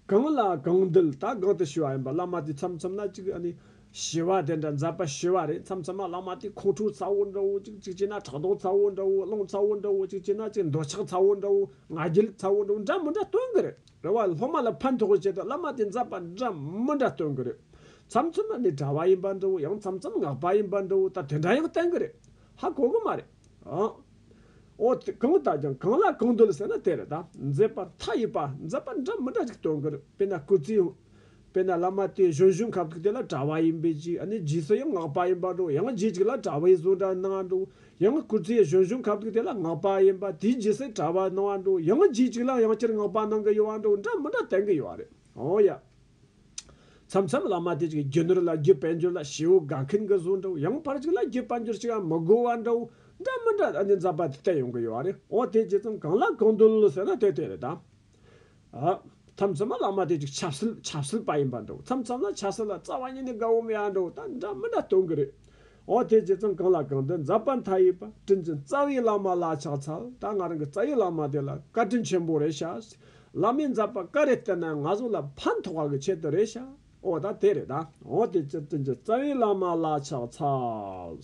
གང་ལ་གང་འདུལ་ད་གང་དུ་ཞུ་བ་ཡིན་པ་བླ་མ་དེ་མཚམས་མཚམས་ན་ཅིག་ཞི་བ་དེ་འདྲ་མཛད་པ་ཞི་བ་རེད་མཚམས་མཚམས་ན་བླ་མ་དེ་ཁོང་ཁྲོ་ཚ་བོ་འདྲ་བོ་ཅིག་ཅིག་བྱས་ན་ཕྲག་དོག་ཚ་བོ་འདྲ་བོ་གླང་ཚ་བོ་འདྲ་བོ་ཅིག་བྱས་ན་ཅིག་འདོད་ཆགས་ཚ་བོ་འདྲ་བོ་ང་རྒྱལ་ཚ་བོ་འདྲ་བོ་འདྲ་མི་འདྲ་སྟོན་གི་རེད། རེ་བ་སློབ་མ་ལ་ཕན་ཐོགས་པའི་ཆེད་དུ་བླ་མ་དེ་མཛད་པ་འདྲ་མི་འདྲ་སྟོན་གྱི་རེད། མཚམས་མཚམས་ན་ནི་གྲྭ་བ་ཡིན་པ་འདྲ་བོ་ཡང་མཚམས་མཚམས་སྔགས་པ་ཡིན་པ་འདྲ་བོ་ད་དེ་འདྲ་ཡང་བསྟན་གྱི་རེད། ཧ་གོ་གི་མ་རེད། འོ་དེ་གང་དག་ཀྱང་གང་ལ་གང་འདོད་ཟེར་ན་དེ་རེད་ད། མཛད་པར་མཐའ་ཡས་པ་མཛད་པ་འདྲ་མི་འདྲ་ཅིག་སྟོན་གྱི་རེད་དཔེར་ན་སྐུ་ཚེའི། དཔེར་ན་བླ་མ་དེ་གཞོན་གཞོན་ཁ་ཁུག་དེ་ལ་གྲྭ་བ་ཡིན་པའི་ཅིག་ནི་རྗེས་སུ་ཡང་སྔགས་པ་ཡིན་པ་འགྲོ་ཡང་རྗེས་གཅིག་ལ་གྲྭ་བའི་བཟོ་འདྲ་སྣང་བ་འགྲོ་ཡང་སྐུ་ཚེ་གཞོན་གཞོན་ཁ་ཁུག་དེ་ལ་སྔགས་པ་ཡིན་པ་དེའི་རྗེས་སུ་གྲྭ་བ་སྣང་བ་འགྲོ་ཡང་རྗེས་གཅིག་ལ་ཡང་བསྐྱར་སྔགས་པ་སྣང་གི་ཡོད་བ་འགྲོ་འདྲ་མི་འདྲ་བསྟན་གི་ཡོད་རེད་འོ་ཡ། མཚམས་མཚམས་བླ་མ་དེ་ཅིག་རྒྱུ་ནོར་ལ་རྒྱུ་དཔལ་འབྱོར་ལ་བྱེའུ་དགའ་མཁན་གི་བཟོ་འགྲོ་ཡང་ཕར་ཅིག་ལ་རྒྱུ་དཔལ་འབྱོར་ཅིག་མི་དགོས་བ་འགྲོ་འདྲ་མི་འདྲ་ཨ་ནི་འཛབ་པ་དེ་བསྟན་ཡོང་གི་ཡོད་རེད་འོ་དེ་རྗེས་ཙམ་གང་ལ་གང་འདོད་ལོ་ཟེར་ན་དེ་དེ་རེད་ད། མཚམས་མཚམས་ན་བླ་མ་དེ་ཅིག་ཆབ་སྲིད་ཆབ་སྲིད་པ་ཡིན་པར་འདུག་མཚམས་མཚམས་ན་ཆབ་སྲིད་ལ་རྩ་བ་ཉིད་ནས་དགའ་བོ་མི་ཡང་འདུག་ད་འདྲ་མི་འདྲ་སྟོན་གི་རེད། འོ་དེ་ཇི་ཙམ་གང་ལ་གང་འདུལ་འཛབ་པ་མཐའ་ཡས་པ་དྲིན་ཅན་རྩ་བའི་བླ་མ་ལ་ཕྱག་འཚལ་ད་ང་རང་གི་རྩ་བའི་བླ་མ་དེ་ལ་བཀའ་དྲིན་ཆེན་པོ་རེ་ཞག་བླ་མའི་འཛབ་པ་བཀའ་རེ་བསྟན་ན་ང་ཚོ་ལ་ཕན་ཐོག་བ་གི་ཆེད་དུ་རེ་ཞག་འོ་ད་དེ་རེད་ད་འོ་དེ་ཅི་དྲིན་ཅན་རྩ་བའི་བླ་མ་ལ་ཕྱག་འཚལ།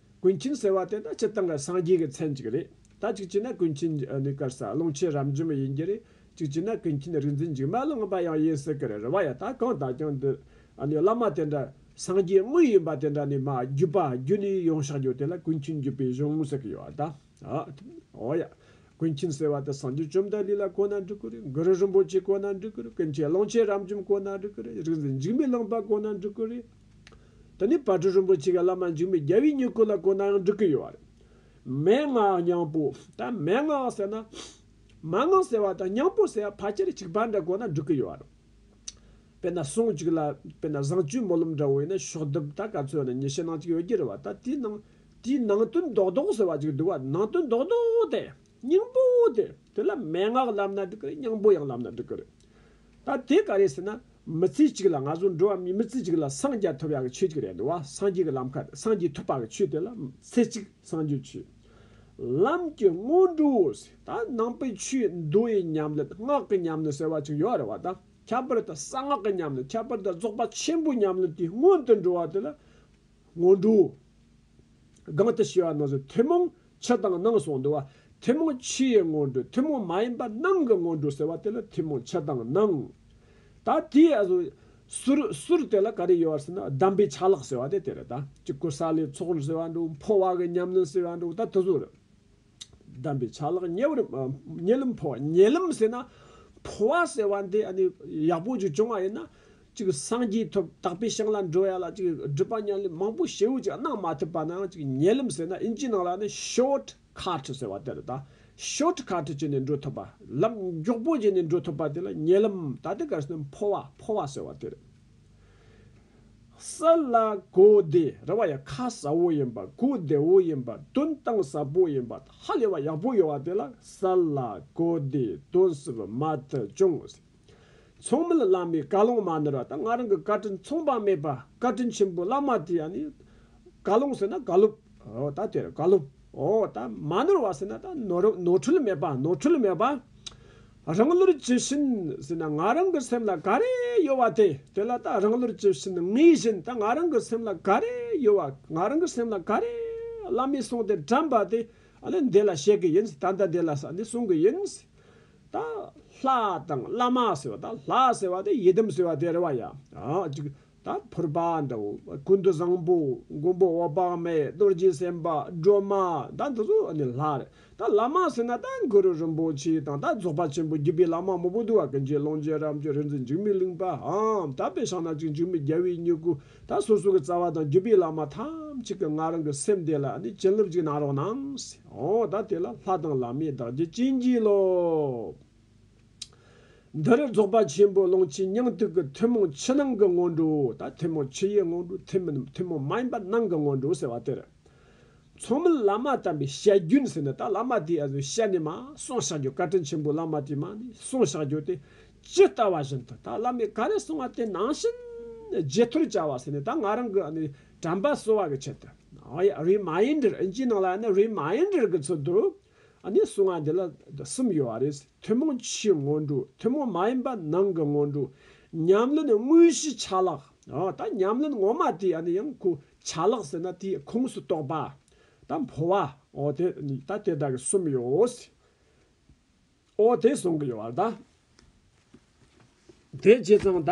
ཀུན་མཁྱེན་ཟེར་བ་དེ་ད་སྤྱི་དང་སངས་རྒྱས་ཀྱི་མཚན་གཅིག་རེད་ད་གཅིག་བྱས་ན་ཀུན་མཁྱེན་གནས་སྐལ་ས་ཀློང་ཆེན་རབ་འབྱམས་ཡིན་གྱི་རེད་གཅིག་བྱས་ན་ཀུན་མཁྱེན་རིག་འཛིན་འཇིགས་མ་ལ་དངོས་པ་ཡང་ཡིན་སྲིད་གི་རེད་རེ་བ་ཡ་ད་གང་དག་ཀྱང་འདི་བླ་མ་དེ་འདྲ་སངས་རྒྱས་དངོས་ཡིན་པ་དེ་འདྲ་ནི་མ་རྒྱུད་པ་རྒྱུད་ནས་ཡོང་ཤག་རྒྱུ་དེ་ལ་ཀུན་མཁྱེན་བརྒྱུད་པའི་གཞུང་ངོ་ཟེར་གི་ཡོད་ད་ཨོ་ཡ། ཀུན་མཁྱེན་ཟེར་བ་དེ་སངས་རྒྱས་བཅོམ་ལྡན་ལི་ལ་གོ་ན་འགྲིག་གི་རེད་གུ་རུ་རིན་པོ་ཆེ་གོ་ན་འགྲིག་གི་རེད་ཀུན་མཁྱེན་ཀློང་ཆེན་རབ་འབྱམས་གོ་ན་འགྲིག་གི་རེད་རིག་འཛིན་འཇིགས་མེད་ལོངས་པ་གོ་ན་འགྲིག་གི་རེད། དེ་ནས་བར་དྲུག་རིན་པོ་ཆེ་གི་བླ་མ་འཇིགས་མེད་རྒྱལ་བའི་སྙིང་བཀུར་ལ་གོ་ན་ཡང་འགྲིག་གི་ཡོད་རེད། མན་ངག་སྙིང་པོ། ད་མན་ངག་ཟེར་ན། མན་ངག་ཟེར་བ་དང་སྙིང་པོ་ཟེར་བ་ཕལ་ཆེར་གཅིག་པ་འདྲ་གོ་ན་འགྲིག་གི་ཡོད་རེད། དཔེར་ན་ཟུང་གཅིག་ལ། དཔེར་ན་བཟང་སྤྱོད་སྨོན་ལམ་འདྲ་བོ་ཡིན་ན་ཤོག་ལྡེབ་ད་ག་ཚོད་ནི་ཉི་ཤུ་ནང་གཅིག་ཡོད་ཀྱི་རེད་བ་ད་དེའི་ནང། དེའི་ནང་དོན་རྡོག་རྡོག་ཟེར་བ་གཅིག་འདུག་བ་ནང་དོན་རྡོག་རྡོག་དེ། སྙིང་པོ་དེ། དེ་ལ་མན་ངག་ལབ་ན་འགྲིག་གི་རེད་སྙིང་པོ་ཡང་ལབ་ན་འགྲིག་གི་རེད། ད་དེ་ག་རེད་ཟེར་ན། མི་ཚེ་གཅིག་ལ་ང་ཚོ་འགྲོ་བ་མིའི་མི་ཚེ་གཅིག་ལ་སངས་རྒྱ་ཐོབ་ཡག་གི་ཆོས་གཅིག་རེད་འདུག་བ་སངས་རྒྱས་ཀྱི་ལམ་ཁ་དེ་སངས་རྒྱས་ཐོབ་པ་གི་ཆོས་དེ་ལ་ཚེ་གཅིག་སངས་རྒྱས་ཆོས་ལམ་གྱི་སྔོན་འགྲོའོ་ཟེར་ད་ནང་པའི་ཆོས་མདོ་ཡི་ཉམས་ལེན་སྔགས་ཀྱི་ཉམས་ལེན་ཟེར་བ་ཅིག་ཡོད་རེད་བ་ད་ཁྱད་པར་དུ་གསང་སྔགས་ཀྱི་ཉམས་ལེན་ཁྱད་པར་དུ་རྫོགས་པ་ཆེན་པོའི་ཉམས་ལེན་དེའི་སྔོན་དུ་འགྲོ་བ་དེ་ལ་སྔོན་འགྲོ། གང་དུ་ཞེས་པ་ན་བཟོད་ཐུན་མོང་ཕྱི་དང་ནང་སོགས་འདུ་བ། ཐུན་མོང་ཕྱི་ཡི་སྔོན་འགྲོ་ཐུན་མོང་མ་ཡིན་པ་རྣམས་ཀྱི་སྔོན་འགྲོ་ཟེར་བ་དེ་ལ་ཐུན་མོང་ཕྱི་དང་ནང། ད་དེའི་བཟོད། ཟུར་དེ་ལ་ག་རེ་ཡོད་བར་ཟེར་ན་གདམས་པའི་ཆ་ལག་ཟེར་བ་དེ་དེ་རེད་ད་ཅིག་ཀུ་ས་ལའི་ཚོགས་འདུ་ཟེར་བ་འདུག་འཕོ་བ་གི་ཉམས་ལེན་ཟེར་བ་འདུག་ད་དེ་ཚོ་རེད། གདམས་པའི་ཆ་ལག་ཉེ་བར་ཉེ་ལམ་འཕོ་བ་ཉེ་ལམ་ཟེར་ན། འཕོ་བ་ཟེར་བ་འདི་ཡག་པོ་ཅིག་བྱུང་བ་ཡིན་ན། ཅིག་སངས་རྒྱས་ཐོབ་དག་པའི་ཞིང་ལ་འགྲོ་ཡ་ལ་ཅིག་སྒྲུབ་པ་ཉམས་ལེན་མང་པོ་བྱེད་འོས་ཅིག་གནང་མ་ཐུབ་པ་ན་ཅིག་ཉེ་ལམ་ཟེར་ན་དབྱིན་ཇིའི་ནང་ལ་ནི Short Cut ཟེར་བ་དེ་རེད་ད། Short Cut བྱས་ནས་འགྲོ་ཐུབ་པ། ལམ་མགྱོགས་པོ་བྱས་ནས་འགྲོ་ཐུབ་པ་དེ་ལ་ཉེ་ལམ་ད་ལྟའི་སྐབས་སུ་འཕོ་བ་འཕོ་བ་ཟེར་བ་དེ་རེད། ས་ལ་གོ་བདེ་རེ་བ་ཡང་ཁ་ཟ་བོ་ཡིན་པ་གོ་བདེ་བོ་ཡིན་པ་དོན་དང་ཟབ་པོ་ཡིན་པ་ཧ་ལས་པ་ཡག་པོ་ཡོད་བ་དེ་ལ་ས་ལ་གོ་བདེ་དོན་ཟབ་མ་ཐུབ་ཅུང་ཟད་ཚང་མལ་བླ་མའི་བཀའ་ལུང་མ་ནོར་བ་དང་ང་རང་གི་བཀའ་དྲིན་མཚུངས་པ་མེད་པ་བཀའ་དྲིན་ཆེན་པོ་བླ་མ་དེ་ཡང་ནི་བཀའ་ལུང་ཟེར་ན་བཀའ་སློབ་འོ་ད་དེར་བཀའ་སློབ་འོ་ད་མ་ནོར་བ་ཟེར་ན་ད་ནོར་ནོར་འཁྲུལ་མེད་པ་ནོར་འཁྲུལ་མེད་པ། རང་བློར་ཇི་བཞིན་ཟིན་ན་ང་རང་གི་སེམས་ལ་ག་རེ་ཡོད་བ་དེ་དེ་ལ་དང་རང་བློར་ཇི་བཞིན་ངེས་བཞིན་དང་ང་རང་གི་སེམས་ལ་ག་རེ་ཡོད་བ་ང་རང་གི་སེམས་ལ་ག་རེ་བླ་མས་གསུངས་ཏེ་དྲན་པ་དེ་ནི་འདི་ལ་བཤད་གི་ཡིན་ད་ལྟ་འདི་ལ་ས་འདི་གསུང་གི་ཡིན། ད་ལྷ་དང་བླ་མ་ཟེར་བ་ད་ལྷ་ཟེར་བ་དེ་ཡི་དམ་ཟེར་བ་དེ་རེད་བ་ཡ། ད་ཕུར་པ་འདི་ཀུན་ཏུ་བཟང་པོ་མགོན་པོ་འོད་དཔག་མེད་རྡོ་རྗེ་སེམས་དཔའ་སྒྲོལ་མ་ད་འདི་ཚོ་ནི་ལྷ་རེད་ད་བླ་མ་ཟེར་ན་ད་གུ་རུ་རིན་པོ་ཆེ་དང་ད་རྫོགས་པ་ཆེན་པོ་བརྒྱུད་པའི་བླ་མ་མང་པོ་འདུག་བ་ཀུན་གྱི་ཀློང་རྒྱལ་རབས་ཀྱི་རིག་འཛིན་འཇིགས་མེད་གླིང་པ་འམ་ད་པའི་ཞང་ན་གཅིག་འཇིགས་མེད་རྒྱལ་བའི་སྙུ་གུ་ད་སོ་སོ་གི་རྩ་བ་དང་བརྒྱུད་པའི་བླ་མ་ཐམས་ཅད་ཀྱི་ང་རང་གི་སེམས་གཏད་ལ་ནི་བྱིན་རླབས་ཅིག་གནང་རོགས་གནང། ད་དེ་ལ་ལྷ་དང་བླ་མའི་བདག་རྒྱུ་བྱིན་གྱིས་རློབས། འདིར་རྫོགས་པ་ཆེན་པོའི་ཀློང་ཆེན་སྙིང་ཐིག་གི་ཐུན་མོང་ཕྱི་ནང་གི་སྔོན་འགྲོ་དང་ཐུན་མོང་ཕྱི་ཡི་སྔོན་འགྲོ་ཐུན་མིན་ཐུན་མོང་མ་ཡིན་པ་ནང་གི་སྔོན་འགྲོ་ཟེར་བ་དེར། མཚུངས་མིན་བླ་མ་དམ་པའི་བཤད་རྒྱུན་ཟེར་ནས་ད་བླ་མ་དེའི་གཟུགས་བཤད་ནས་མ་གསུངས་བཞག་རྒྱུ་བཀའ་དྲིན་ཆེན་པོའི་བླ་མ་དེའི་མ་ནི་གསུངས་བཞག་རྒྱུ་དེ་ཇི་ལྟ་བ་བཞིན་དུ་ད་བླ་མས་ག་རེ་གསུངས་བ་དེ་ནང་བཞིན་རྗེས་ཐོར་བྱ་བ་ཟེར་ནས་ད་ང་རང་གི་ནི་དྲན་པ་གསོ་བ་གི་ཆེད་དུ། རིགས་མ་ཡིན་འདྲིར་ཨིན་ཇིའི་ནང་ལ་ཡང་ནི་རིགས་མ་ཡིན་འདྲིར་གི་ཚུལ་དུ། གནས་སུ་སྔགས་འདི་ལ་གསུམ་ཡོད་པ་རེད། ཐུན་མོང་ཕྱིའི་སྔོན་འགྲོ། ཐུན་མོང་མ་ཡིན་པ་ནང་གི་སྔོན་འགྲོ། ཉམས་ལེན་དངོས་གཞིའི་ཆ་ལག། ད་ཉམས་ལེན་ངོ་མ་དེ་ཡང་ཁོ་ཆ་ལག་ཟེར་ན་དེའི་ཁོངས་སུ་གཏོགས་པ། ད་འཕོ་བ། འོ་དེ་ད་དེ་དག་གི་གསུམ་ཡོད། འོ་དེ་གསུང་གི་ཡོད་པ་དེ་ཇི་ཙམ་ད།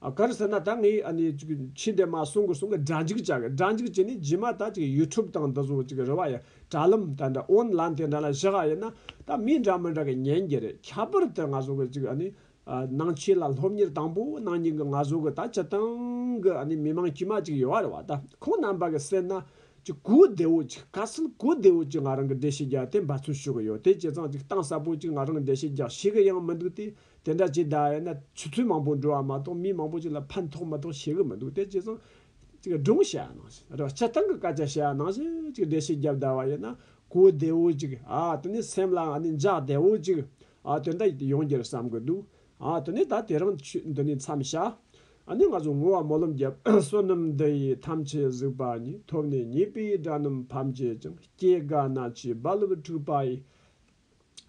གར་ཟེར་ན་ད་ངས་ཕྱི་འདས་མ་གསུང་གི་གསུང་གི་སྒྲ་འཇིག་བྱ་གི་སྒྲ་འཇིག་བྱས་ནས་རྗེས་མ་ད YouTube དང་འདི་ཚོ་རེ་བ་ཡི་དྲ་ལམ་དེ་འདྲ་ཨོན་ལན་དེ་འདྲ་ལ་བཞག་ཡ་ཡིན་ན་ད་མི་འདྲ་མི་འདྲ་གི་ཉན་རྒྱུ་རེད་ཁྱད་པར་དུ་ང་ཚོ་གི་ནང་ཆོས་ལ་སློབ་གཉེར་དང་པོ་གནང་རྒྱུ་གི་ང་ཚོ་གི་ད་སྤྱི་སྟངས་གི་མི་མང་དཀྱུས་མ་གཅིག་ཡོད་རེད་བ་ད་ཁོང་རྣམ་པ་གི་སེམས་ན་གོ་བདེ་བོ་གཅིག་ག་ཚོད་གོ་བདེ་བོ་གཅིག་ང་རང་གི་འགྲེལ་བཤད་རྒྱག་དེ་འབད་བརྩོན་ཞུ་གི་ཡོད་དེ་སྤྱི་ཚང་གཅིག་གཏང་ས་པོ་གཅིག་ང་རང་འགྲེལ་བཤད་རྒྱག་ཤེས་གི་ཡང་མི་འདུག་དེ་དེ་འདྲ་བྱེད་གདའ་ཡོད་ན་ཆུ་ཚོད་མང་པོ་འགྲོ་བ་མ་གཏོགས་མི་མང་པོ་ཅིག་ལ་ཕན་ཐོགས་མ་གཏོགས་བྱེད་གི་མི་འདུག་དེ་བྱས་ཙང། སྒྲུང་བཤད་ཡག་གནང་ཞིག་རེད་བྱེད་སྟངས་ཀྱི་སྐད་ཆ་བཤད་ཡག་གནང་ཞིག་འགྲེལ་བཤད་བརྒྱབ་གདའ་བ་ཡོད་ན་གོ་བདེ་བོ་ཅིག་ཨ་དེ་ནས་སེམས་ལ་ཨ་ནི་འཇགས་བདེ་བོ་ཅིག་ཨ་དེ་འདྲ་ཡོང་རྒྱུར་བསམ་གི་འདུག་ཨ་དེ་ནས་ད་དེ་རིང་ཆུད་འདི་ནས་མཚམས་བཞག་ཨ་ནི་ང་ཚོ་ངུ་བ་མོ་ལོམ་རྒྱབ་བསོད་ནམས་འདི་ཡི་ཐམས་ཅད་གཟིགས་པ་ཉིད་ཐོབ་ནས་ཉེས་པའི་དགྲ་སྣུམ་ཕམ་བྱེད་ཅིང་སྐྱེ་རྒ་ན་འཆིའི་རྦ་རླབས་འཁྲུགས་པ་ཡི།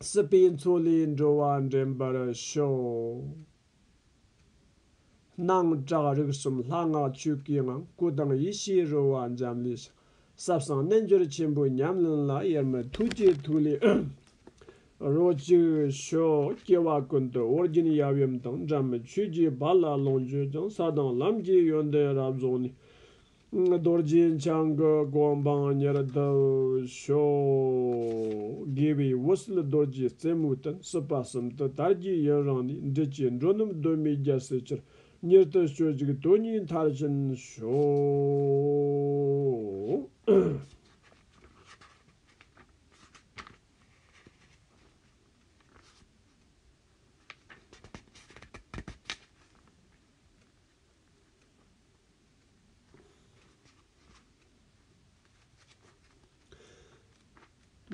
སྲིད་པའི་མཚོ་ལས་འགྲོ་བ་འདྲེན་པར་ཤོག། སྣང་གྲགས་རིག་གསུམ་ལྷ་སྔགས་བཅུད་ཀྱི་ངང་སྐུ་དང་ཡེ་ཤེས་རོལ་བ་འབྱམས་ཀླས་ཤར། ཟབ་གསང་རྣལ་འབྱོར་ཆེན་པོའི་ཉམས་ལེན་ལ་དབྱེར་མེད་ཐུགས་ཀྱི་ཐུགས་ལས་རོ་གཅིག་ཤོག། སྐྱེ་བ་ཀུན་ཏུ་ཨོ་རྒྱན་ཡབ་ཡུམ་དང་འདྲ་མིན་ཆོས་རྗེའི་བར་ལ་ལོངས་སྤྱོད་ཀྱང་ས་དང་ལམ་གྱི་ཡོན་ཏན་རབ་རྫོགས་ནས། རྡོ་རྗེ་འཆང་གི་སྒོམ་སྤང་ཉེར་བསྡུ་ཤོག། དགེ་བའི་འོད་ཟིལ་རྡོ་རྗེའི་རྩེ་མོའི་སྟེང་སྲིད་པ་གསུམ་དུ་དར་རྒྱས་ཡུན་རིང་ནས་འབྲི་བཅས་འགྲོ་སྣུམ་གདོད་མའི་རྒྱལ་སྲས་ཆེར་གཉེར་བསྟོད་བཅོལ་ཅིག་དོན་གཉིས་མཐར་ཕྱིན་ཤོག།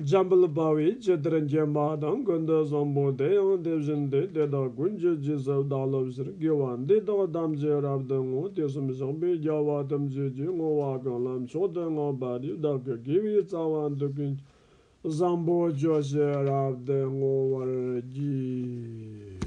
འཇམ་དཔལ་དཔའ་བོའི་སྤྱི་གཏེར་འགྱེད་མ་དང་དགོས་འདོད་བཟང་པོ་དེ་ཡང་དེ་བཞིན་ཏེ་དེ་དག་ཀུན་སྤྱོད་སྦྱིན་སྲེག་བདག་སློབ་བཞིར་བགྱི་བ་འདི་དག་ཐམས་ཅད་རབ་ཏུ་བསྔོ་དུས་གསུམ་བཞག་པའི་རྒྱལ་བ་ཐམས་ཅད་ཀྱི་བསྔོ་བ་གང་ལམ་མཆོག་ཏུ་བསྔགས་པ་འདི་བདག་གི་དགེ་བའི་རྩ་བ་འདུལ་གྱི་འགྱུར། བཟང་པོ་སྐྱོ་ཤས་རབ་ཏུ་བསྔོ་བར་བགྱི།